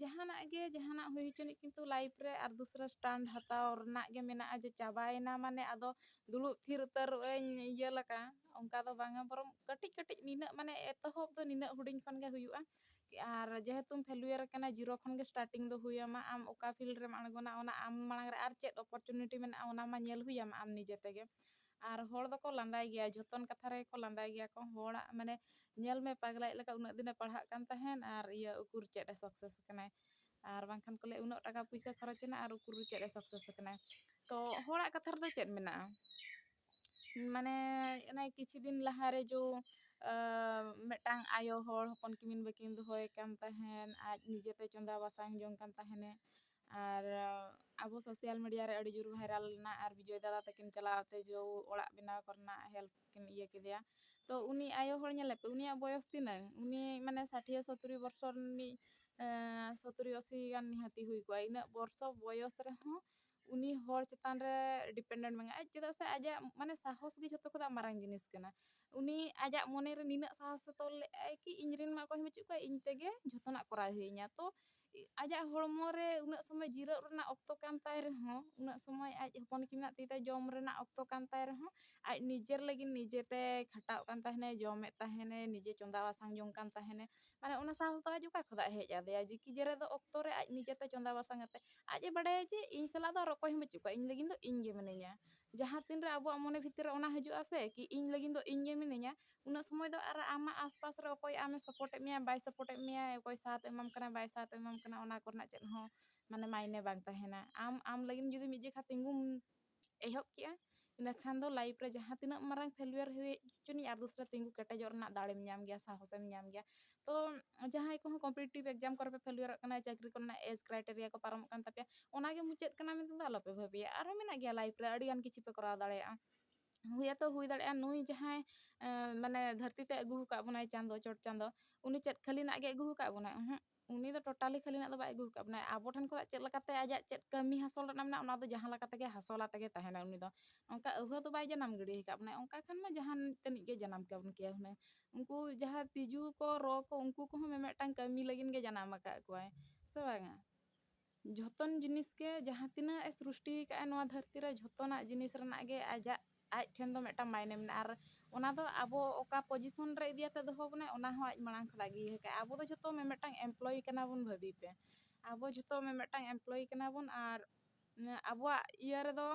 ᱡᱟᱦᱟᱱᱟᱜ ᱜᱮ ᱡᱟᱦᱟᱱᱟᱜ ᱦᱩᱭ ᱦᱚᱪᱚᱱᱤᱡ ᱠᱤᱱᱛᱩ ᱞᱟᱭᱤᱯᱷ ᱨᱮ ᱟᱨ ᱫᱩᱥᱨᱟ ᱥᱴᱟᱱᱰ ᱦᱟᱛᱟᱣ ᱨᱮᱱᱟᱜ ᱜᱮ ᱢᱮᱱᱟᱜᱼᱟ ᱡᱮ ᱪᱟᱵᱟᱭᱮᱱᱟ ᱢᱟᱱᱮ ᱟᱫᱚ ᱫᱩᱲᱩᱵ ᱛᱷᱤᱨ ᱩᱛᱟᱹᱨᱚᱜ ᱟᱹᱧ ᱤᱭᱟᱹ ᱞᱮᱠᱟ ᱚᱱᱠᱟ ᱫᱚ ᱵᱟᱝᱟ ᱵᱚᱨᱚᱝ ᱠᱟᱹᱴᱤᱡ ᱠᱟᱹᱴᱤᱡ ᱱᱤᱱᱟᱹᱜ ᱢᱟᱱᱮ ᱮᱛᱚᱦᱚᱵ ᱫᱚ ᱱᱤᱱᱟᱹᱜ ᱦᱩᱰᱤᱧ ᱠᱷᱚᱱ ᱜᱮ ᱦᱩᱭᱩᱜᱼᱟ ᱟᱨ ᱡᱮᱦᱮᱛᱩᱢ ᱯᱷᱮᱞᱩᱭᱟᱨ ᱟᱠᱟᱱᱟ ᱡᱤᱨᱳ ᱠᱷᱚᱱ ᱜᱮ ᱥᱴᱟᱨᱴᱤᱝ ᱫᱚ ᱦᱩᱭ ᱟᱢᱟ ᱟᱢ ᱚᱠᱟ ᱯᱷᱤᱞᱰ ᱨᱮᱢ ᱟᱬᱜᱚᱱᱟ ᱚᱱᱟ ᱟᱢ ᱢᱟᱲᱟᱝ ᱨᱮ ᱟᱨ ᱪᱮᱫ ᱚᱯᱚᱨᱪᱩᱱᱤᱴᱤ ᱢᱮᱱᱟᱜᱼᱟ ᱚᱱᱟ ᱢᱟ ᱧᱮᱞ ᱦᱩᱭ ᱟᱢᱟ ᱟᱢ ᱱᱤᱡᱮ ᱛᱮᱜᱮ ᱟᱨ ᱦᱚᱲ ᱫᱚᱠᱚ ᱞᱟᱸᱫᱟᱭ ᱜᱮᱭᱟ ᱡᱷᱚᱛᱚᱱ ᱠᱟᱛᱷᱟ ᱨᱮᱜᱮ ᱠᱚ ᱞᱟᱸᱫᱟᱭ ᱜᱮᱭᱟ ᱠᱚ ᱦᱚᱲᱟᱜ ᱢᱟᱱᱮ ᱧᱮᱞ ᱢᱮ ᱯᱟᱜᱽᱞᱟᱭᱤᱡ ᱞᱮᱠᱟ ᱩᱱᱟᱹᱜ ᱫᱤᱱᱮ ᱯᱟᱲᱦᱟᱜ ᱠᱟᱱ ᱛᱟᱦᱮᱱ ᱟᱨ ᱤᱭᱟᱹ ᱩᱠᱩᱨ ᱪᱮᱫ ᱮ ᱥᱟᱠᱥᱮᱥ ᱠᱟᱱᱟᱭ ᱟᱨ ᱵᱟᱝᱠᱷᱟᱱ ᱠᱚ ᱞᱟᱹᱭᱟ ᱩᱱᱟᱹᱜ ᱴᱟᱠᱟ ᱯᱚᱭᱥᱟ ᱠᱷᱚᱨᱚᱪ ᱮᱱᱟ ᱟᱨ ᱩᱠᱩᱨ ᱪᱮᱫ ᱮ ᱥᱟᱠᱥᱮᱥ ᱠᱟᱱᱟᱭ ᱛᱚ ᱦᱚᱲᱟᱜ ᱠᱟᱛᱷᱟ ᱨᱮᱫᱚ ᱪᱮᱫ ᱢᱮᱱᱟᱜᱼᱟ ᱢᱟᱱᱮ ᱚᱱᱮ ᱠᱤᱪᱷᱩ ᱫᱤᱱ ᱞᱟᱦᱟ ᱨᱮ ᱡᱚ ᱢᱤᱫᱴᱟᱝ ᱟᱭᱳ ᱦᱚᱲ ᱦᱚᱯᱚᱱ ᱠᱤᱢᱤᱱ ᱵᱟᱹᱠᱤᱱ ᱫᱚᱦᱚᱭᱮ ᱠᱟᱱ ᱛᱟᱦᱮᱱ ᱟᱡ ᱱᱤᱡᱮᱛᱮ ᱪᱚᱸᱫᱟ ᱵᱟᱥᱟᱝ ᱡᱚᱝ ᱠᱟᱱ ᱛᱟᱦᱮᱱᱮ ᱟᱨ ᱟᱵᱚ ᱥᱳᱥᱟᱞ ᱢᱤᱰᱤᱭᱟ ᱨᱮ ᱟᱹᱰᱤ ᱡᱳᱨ ᱵᱷᱟᱭᱨᱟᱞ ᱞᱮᱱᱟ ᱟᱨ ᱵᱤᱡᱚᱭ ᱫᱟᱫᱟ ᱛᱟᱹᱠᱤᱱ ᱪᱟᱞᱟᱣ ᱠᱟᱛᱮ ᱡᱳ ᱚᱲᱟᱜ ᱵᱮᱱᱟᱣ ᱠᱚᱨᱮᱱᱟᱜ ᱦᱮᱞᱯ ᱠᱤᱱ ᱤᱭᱟᱹ ᱠᱮᱫᱮᱭᱟ ᱛᱚ ᱩᱱᱤ ᱟᱭᱳ ᱦᱚᱲ ᱧᱮᱞᱮ ᱯᱮ ᱩᱱᱤᱭᱟᱜ ᱵᱚᱭᱚᱥ ᱛᱤᱱᱟᱹᱝ ᱩᱱᱤ ᱢᱟᱱᱮ ᱥᱟᱴᱷᱭᱟᱹ ᱥᱚᱛᱨᱤ ᱵᱚᱨᱥᱚ ᱨᱤᱱᱤᱡ ᱥᱚᱛᱨᱤ ᱟᱥᱤ ᱜᱟᱱ ᱱᱤᱦᱟᱹᱛᱤ ᱦᱩᱭ ᱠᱚᱜᱼᱟ ᱤᱱᱟᱹᱜ ᱵᱚᱨᱥᱚ ᱵᱚᱭᱚᱥ ᱨᱮᱦᱚᱸ ᱩᱱᱤ ᱦᱚᱲ ᱪᱮᱛᱟᱱ ᱨᱮ ᱰᱤᱯᱮᱱᱰᱮᱱᱴ ᱢᱮᱱᱟᱭᱟ ᱟᱡ ᱪᱮᱫᱟᱜ ᱥᱮ ᱟᱡᱟᱜ ᱢᱟᱱᱮ ᱥᱟᱦᱚᱥ ᱜᱮ ᱡᱷᱚᱛᱚ ᱠᱷᱚᱱᱟᱜ ᱢᱟᱨᱟᱝ ᱡᱤᱱᱤᱥ ᱠᱟᱱᱟ ᱩᱱᱤ ᱟᱡᱟᱜ ᱢᱚᱱᱮ ᱨᱮ ᱱᱤᱱᱟᱹᱜ ᱥᱟᱦᱚᱥᱮ ᱛᱚᱞ ᱞᱮᱜᱼᱟᱭ ᱠᱤ ᱤᱧ ᱨᱮᱱ ᱢᱟ ᱚᱠᱚᱭ ᱦᱚᱸ ᱵᱟᱹᱪᱩᱜ ᱠᱚᱣᱟ ᱤᱧ ᱛᱮᱜᱮ ᱡᱷᱚᱛᱚᱱᱟᱜ ᱠᱚᱨᱟᱣ ᱦᱩᱭᱤᱧᱟ ᱛᱚ ᱟᱡᱟᱜ ᱦᱚᱲᱢᱚ ᱨᱮ ᱩᱱᱟᱹᱜ ᱥᱚᱢᱚᱭ ᱡᱤᱨᱟᱹᱜ ᱨᱮᱱᱟᱜ ᱚᱠᱛᱚ ᱠᱟᱱ ᱛᱟᱭ ᱨᱮᱦᱚᱸ ᱩᱱᱟᱹᱜ ᱥᱚᱢᱚᱭ ᱟᱡ ᱦᱚᱯᱚᱱ ᱠᱤᱢᱤᱱᱟᱜ ᱛᱤ ᱛᱮ ᱡᱚᱢ ᱨᱮᱱᱟᱜ ᱚᱠᱛᱚ ᱠᱟᱱ ᱛᱟᱭ ᱨᱮᱦᱚᱸ ᱟᱡ ᱱᱤᱡᱮᱨ ᱞᱟᱹᱜᱤᱫ ᱱᱤᱡᱮ ᱛᱮᱭ ᱠᱷᱟᱴᱟᱜ ᱠᱟᱱ ᱛᱟᱦᱮᱱᱮ ᱡᱚᱢᱮᱫ ᱛᱟᱦᱮᱱᱮ ᱱᱤᱡᱮ ᱪᱚᱸᱫᱟ ᱵᱟᱥᱟᱝ ᱡᱚᱝ ᱠᱟᱱ ᱛᱟᱦᱮᱱᱮ ᱢᱟᱱᱮ ᱚᱱᱟ ᱥᱟᱦᱚᱥ ᱫᱚ ᱟᱡ ᱚᱠᱟ ᱠᱷᱚᱱᱟᱜ ᱦᱮᱡ ᱟᱫᱮᱭᱟ ᱡᱤᱠᱤ ᱡᱮᱨᱮ ᱫᱚ ᱚᱠᱛᱚ ᱨᱮ ᱟᱡ ᱱᱤᱡᱮ ᱛᱮ ᱪᱚᱸᱫᱟ ᱵᱟᱥᱟᱝ ᱠᱟᱛᱮ ᱟᱡ ᱮ ᱵᱟᱰᱟᱭᱟ ᱡᱮ ᱤᱧ ᱥᱟᱞᱟᱜ ᱫᱚ ᱟᱨ ᱚᱠᱚᱭ ᱦᱚᱸ ᱵᱟᱹᱪᱩᱜ ᱠᱚᱣᱟ ᱤᱧ ᱞᱟᱹᱜᱤᱫ ᱫᱚ ᱤᱧ ᱜᱮ ᱢᱤᱱᱟᱹᱧᱟ ᱡᱟᱦᱟᱸ ᱛᱤᱱ ᱨᱮ ᱟᱵᱚᱣᱟᱜ ᱢᱚᱱᱮ ᱵᱷᱤᱛᱤᱨ ᱨᱮ ᱚᱱᱟ ᱦᱤᱡᱩᱜᱼᱟ ᱥᱮ ᱠᱤ ᱤᱧ ᱞᱟᱹᱜᱤᱫ ᱫᱚ ᱤᱧ ᱜᱮ ᱢᱤᱱᱟᱹᱧᱟ ᱩᱱᱟᱹᱜ ᱥᱚᱢᱚᱭ ᱫᱚ ᱟᱨ ᱟᱢᱟᱜ ᱟᱥᱯᱟᱥ ᱨᱮ ᱚᱠᱚᱭ ᱟᱢᱮ ᱥᱟᱯᱚᱴᱮᱫ ᱢᱮᱭᱟ ᱵᱟᱭ ᱥᱟᱯᱚᱴᱮᱫ ᱢᱮᱭᱟ ᱚᱠᱚᱭ ᱥᱟᱛ ᱮᱢᱟᱢ ᱠᱟᱱᱟ ᱵᱟᱭ ᱥᱟᱛ ᱮᱢᱟᱢ ᱠᱟᱱᱟ ᱚᱱᱟ ᱠᱚᱨᱮᱱᱟᱜ ᱪᱮᱫ ᱦᱚᱸ ᱢᱟᱱᱮ ᱢᱟᱭᱱᱮ ᱵᱟᱝ ᱛᱟᱦᱮᱱᱟ ᱟᱢ ᱟᱢ ᱞᱟᱹᱜᱤᱫ ᱡᱩᱫᱤ ᱢᱤᱫ ᱡᱚᱠᱷᱟᱡ ᱛᱤᱸᱜᱩᱢ ᱮᱦᱚᱵ ᱠᱮᱜᱼᱟ ᱤᱱᱟᱹ ᱠᱷᱟᱱ ᱫᱚ ᱞᱟᱭᱤᱯᱷ ᱨᱮ ᱡᱟᱦᱟᱸ ᱛᱤᱱᱟᱹᱜ ᱢᱟᱨᱟᱝ ᱯᱷᱮᱞᱭᱩᱭᱟᱨ ᱦᱩᱭ ᱦᱚᱪᱚᱱᱤᱡ ᱟᱨ ᱫᱚᱥᱨᱟ ᱛᱤᱸᱜᱩ ᱠᱮᱴᱮᱡᱚᱜ ᱨᱮᱱᱟᱜ ᱫᱟᱲᱮᱢ ᱧᱟᱢ ᱜᱮᱭᱟ ᱥᱟᱦᱚᱥ ᱮᱢ ᱧᱟᱢ ᱜᱮᱭᱟ ᱛᱚ ᱡᱟᱦᱟᱸᱭ ᱠᱚᱦᱚᱸ ᱠᱚᱢᱯᱤᱴᱤᱴᱤᱵᱽ ᱮᱠᱡᱟᱢ ᱠᱚᱨᱮ ᱯᱮ ᱯᱷᱮᱞᱭᱩᱭᱟᱨᱚᱜ ᱠᱟᱱᱟ ᱪᱟᱹᱠᱨᱤ ᱠᱚᱨᱮᱱᱟᱜ ᱮᱡᱽ ᱠᱨᱟᱭᱴᱮᱨᱤᱭᱟ ᱠᱚ ᱯᱟᱨᱚᱢᱚᱜ ᱠᱟᱱ ᱛᱟᱯᱮᱭᱟ ᱚᱱᱟᱜᱮ ᱢᱩᱪᱟᱹᱫ ᱠᱟᱱᱟ ᱢᱮᱱᱛᱮ ᱫᱚ ᱟᱞᱚᱯᱮ ᱵᱷᱟᱹᱵᱤᱭᱟ ᱟᱨᱦᱚᱸ ᱢᱮᱱᱟᱜ ᱜᱮᱭᱟ ᱞᱟᱭᱤᱯᱷ ᱨᱮ ᱟᱹᱰᱤ ᱜᱟᱱ ᱠᱤᱪᱷᱩ ᱯᱮ ᱠᱚᱨᱟᱣ ᱫᱟᱲᱮᱭᱟᱜᱼᱟ ᱦᱩᱭ ᱟᱛᱚ ᱦᱩᱭ ᱫᱟᱲᱮᱭᱟᱜᱼᱟ ᱱᱩᱭ ᱡᱟᱦᱟᱸᱭ ᱢᱟᱱᱮ ᱫᱷᱟᱹᱨᱛᱤ ᱛᱮ ᱟᱹᱜᱩ ᱟᱠᱟᱫ ᱵᱚᱱᱟᱭ ᱪᱟᱸᱫᱚ ᱪᱚᱴ ᱪᱟᱸᱫᱚ ᱩᱱᱤ ᱪᱮᱫ ᱠᱷᱟᱹᱞᱤᱱᱟᱜ ᱜᱮ ᱟᱹᱜᱩ ᱟᱠᱟᱫ ᱵᱚᱱᱟᱭ ᱚᱦᱚᱸᱜ ᱩᱱᱤ ᱫᱚ ᱴᱳᱴᱟᱞᱤ ᱠᱷᱟᱹᱞᱤᱱᱟᱜ ᱫᱚ ᱵᱟᱭ ᱟᱹᱜᱩ ᱟᱠᱟᱫ ᱵᱚᱱᱟᱭ ᱟᱵᱚ ᱴᱷᱮᱱ ᱠᱷᱚᱱᱟᱜ ᱪᱮᱫ ᱞᱮᱠᱟᱛᱮ ᱟᱡᱟᱜ ᱪᱮᱫ ᱠᱟᱹᱢᱤ ᱦᱟᱥᱚᱞ ᱨᱮᱱᱟᱜ ᱢᱮᱱᱟᱜᱼᱟ ᱚᱱᱟ ᱫᱚ ᱡᱟᱦᱟᱸ ᱞᱮᱠᱟ ᱛᱮᱜᱮ ᱦᱟᱥᱚᱞ ᱟᱛᱮ ᱜᱮ ᱛᱟᱦᱮᱱᱟᱭ ᱩᱱᱤ ᱫᱚ ᱚᱱᱠᱟ ᱟᱹᱣᱦᱟᱹ ᱫᱚ ᱵᱟᱭ ᱡᱟᱱᱟᱢ ᱜᱤᱰᱤ ᱟᱠᱟᱫ ᱵᱚᱱᱟᱭ ᱚᱱᱠᱟ ᱠᱷᱟᱱ ᱢᱟ ᱡᱟᱦᱟᱱ ᱛᱟᱹᱱᱤᱡ ᱜᱮ ᱡᱟᱱᱟᱢ ᱠᱟᱵᱚᱱ ᱠᱮᱭᱟ ᱦᱩᱱᱟᱹᱝ ᱩᱱᱠᱩ ᱡᱟᱦᱟᱸ ᱛᱤᱡᱩ ᱠᱚ ᱨᱚ ᱠᱚ ᱩᱱᱠᱩ ᱠᱚᱦᱚᱸ ᱢᱤᱢᱤᱫᱴᱟᱝ ᱠᱟᱹᱢᱤ ᱞᱟᱹᱜᱤᱫ ᱜᱮ ᱡᱟᱱᱟᱢ ᱟᱠᱟᱫ ᱠᱚᱣᱟᱭ ᱥᱮ ᱵᱟᱝᱟ ᱡᱷᱚᱛᱚᱱ ᱡᱤᱱᱤᱥ ᱜᱮ ᱡᱟᱦᱟᱸ ᱛᱤᱱᱟᱹᱜ ᱮ ᱥᱨᱩᱥᱴᱤ ᱟᱠᱟᱫ ᱟᱭ ᱱᱚᱣᱟ ᱫᱷᱟᱹᱨᱛᱤ ᱨᱮ ᱡᱷᱚᱛᱚᱱᱟᱜ ᱡᱤᱱᱤᱥ ᱨᱮᱱᱟᱜ ᱜᱮ ᱟᱡᱟᱜ ᱟᱡ ᱴᱷᱮᱱ ᱫᱚ ᱢᱤᱫᱴᱟᱝ ᱢᱟᱭᱱᱮ ᱢᱮᱱᱟᱜᱼᱟ ᱟᱨ ᱚᱱᱟ ᱫᱚ ᱟᱵᱚ ᱚᱠᱟ ᱯᱚᱡᱤᱥᱚᱱ ᱨᱮ ᱤᱫᱤ ᱠᱟᱛᱮ ᱫᱚᱦᱚ ᱵᱚᱱᱟᱭ ᱚᱱᱟ ᱦᱚᱸ ᱟᱡ ᱢᱟᱲᱟᱝ ᱠᱷᱚᱱᱟᱜ ᱜᱮ ᱤᱭᱟᱹ ᱟᱠᱟᱫᱟᱭ ᱟᱵᱚ ᱫᱚ ᱡᱷᱚᱛᱚ ᱢᱤᱫ ᱢᱤᱫᱴᱟᱝ ᱮᱢᱯᱞᱚᱭᱤ ᱠᱟᱱᱟ ᱵᱚᱱ ᱵᱷᱟᱹᱵᱤ ᱯᱮ ᱟᱵᱚ ᱡᱷᱚᱛᱚ ᱢᱤᱫ ᱢᱤᱫᱴᱟᱝ ᱮᱢᱯᱞᱚᱭᱤ ᱠᱟᱱᱟ ᱵᱚᱱ ᱟᱨ ᱟᱵᱚᱣᱟᱜ ᱤᱭᱟᱹ ᱨᱮᱫᱚ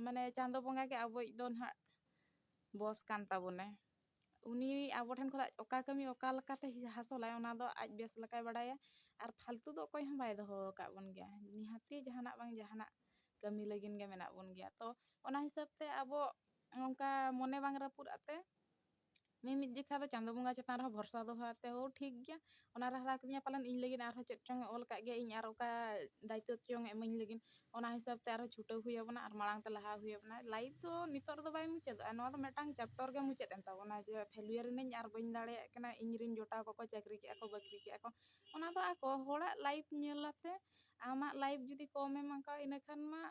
ᱢᱟᱱᱮ ᱪᱟᱸᱫᱚ ᱵᱚᱸᱜᱟ ᱜᱮ ᱟᱵᱚᱭᱤᱡ ᱫᱚ ᱱᱟᱦᱟᱜ ᱵᱚᱥ ᱠᱟᱱ ᱛᱟᱵᱚᱱᱟᱭ ᱩᱱᱤ ᱟᱵᱚ ᱴᱷᱮᱱ ᱠᱷᱚᱱᱟᱜ ᱚᱠᱟ ᱠᱟᱹᱢᱤ ᱚᱠᱟ ᱞᱮᱠᱟᱛᱮ ᱦᱟᱥᱚᱞᱟᱭ ᱚᱱᱟ ᱫᱚ ᱟᱡ ᱵᱮᱥ ᱞᱮᱠᱟᱭ ᱵᱟᱲᱟᱭᱟ ᱟᱨ ᱯᱷᱟᱞᱛᱩ ᱫᱚ ᱚᱠᱚᱭ ᱦᱚᱸ ᱵᱟᱭ ᱫᱚᱦᱚ ᱟᱠᱟᱫ ᱵᱚᱱ ᱜᱮᱭᱟ ᱱᱤᱦᱟᱹᱛᱤ ᱡᱟᱦᱟᱱᱟᱜ ᱵᱟᱝ ᱡᱟᱦᱟᱱᱟᱜ ᱠᱟᱹᱢᱤ ᱞᱟᱹᱜᱤᱫ ᱜᱮ ᱢᱮᱱᱟᱜ ᱵᱚᱱ ᱜᱮᱭᱟ ᱛᱚ ᱚᱱᱟ ᱦᱤᱥᱟᱹᱵ ᱛᱮ ᱟᱵᱚ ᱚᱱᱠᱟ ᱢᱚᱱᱮ ᱵᱟᱝ ᱨᱟᱹᱯᱩᱫ ᱟᱛᱮ ᱢᱤᱢᱤᱫ ᱡᱚᱠᱷᱟ ᱫᱚ ᱪᱟᱸᱫᱚ ᱵᱚᱸᱜᱟ ᱪᱮᱛᱟᱱ ᱨᱮᱦᱚᱸ ᱵᱷᱚᱨᱥᱟ ᱫᱚᱦᱚ ᱟᱛᱮ ᱦᱳ ᱴᱷᱤᱠ ᱜᱮᱭᱟ ᱚᱱᱟᱨᱮ ᱦᱟᱨᱟ ᱠᱟᱹᱫᱤᱧᱟ ᱯᱟᱞᱮᱱ ᱤᱧ ᱞᱟᱹᱜᱤᱫ ᱟᱨᱦᱚᱸ ᱪᱮᱫ ᱪᱚᱝ ᱮ ᱚᱞ ᱟᱠᱟᱫ ᱜᱮᱭᱟ ᱤᱧ ᱟᱨ ᱚᱠᱟ ᱫᱟᱭᱤᱛᱛᱚ ᱪᱚᱝ ᱮ ᱤᱢᱟᱹᱧ ᱞᱟᱹᱜᱤᱫ ᱚᱱᱟ ᱦᱤᱥᱟᱹᱵᱽ ᱛᱮ ᱟᱨᱦᱚᱸ ᱪᱷᱩᱴᱟᱹᱣ ᱦᱩᱭ ᱟᱵᱚᱱᱟ ᱟᱨ ᱢᱟᱲᱟᱝ ᱛᱮ ᱞᱟᱦᱟ ᱦᱩᱭ ᱟᱵᱚᱱᱟ ᱞᱟᱭᱤᱯᱷ ᱫᱚ ᱱᱤᱛᱚᱜ ᱨᱮᱫᱚ ᱵᱟᱭ ᱢᱩᱪᱟᱹᱫᱚᱜᱼᱟ ᱱᱚᱣᱟ ᱫᱚ ᱢᱤᱫᱴᱟᱝ ᱪᱮᱯᱴᱚᱨ ᱜᱮ ᱢᱩᱪᱟᱹᱫ ᱮᱱ ᱛᱟᱵᱚᱱᱟ ᱡᱮ ᱯᱷᱮᱞᱩᱭᱟᱨ ᱮᱱᱟᱹᱧ ᱟᱨ ᱵᱟᱹᱧ ᱫᱟᱲᱮᱭᱟᱜ ᱠᱟᱱᱟ ᱤᱧ ᱨᱮᱱ ᱡᱚᱴᱟᱣ ᱠᱚᱠᱚ ᱪᱟᱹᱠᱨᱤ ᱠᱮᱜᱼᱟ ᱠᱚ ᱵᱟᱹᱠᱨᱤ ᱠᱮᱜᱼᱟ ᱠᱚ ᱚᱱᱟ ᱫᱚ ᱟᱠᱚ ᱦᱚᱲᱟᱜ ᱞᱟᱭᱤᱯᱷ ᱧᱮᱞ ᱟᱛᱮ ᱟᱢᱟᱜ ᱞᱟᱭᱤᱯᱷ ᱡᱩᱫᱤ ᱠᱚᱢᱮᱢ ᱟᱸᱠᱟᱣᱟ ᱤᱱᱟᱹ ᱠᱷᱟᱱ ᱢᱟ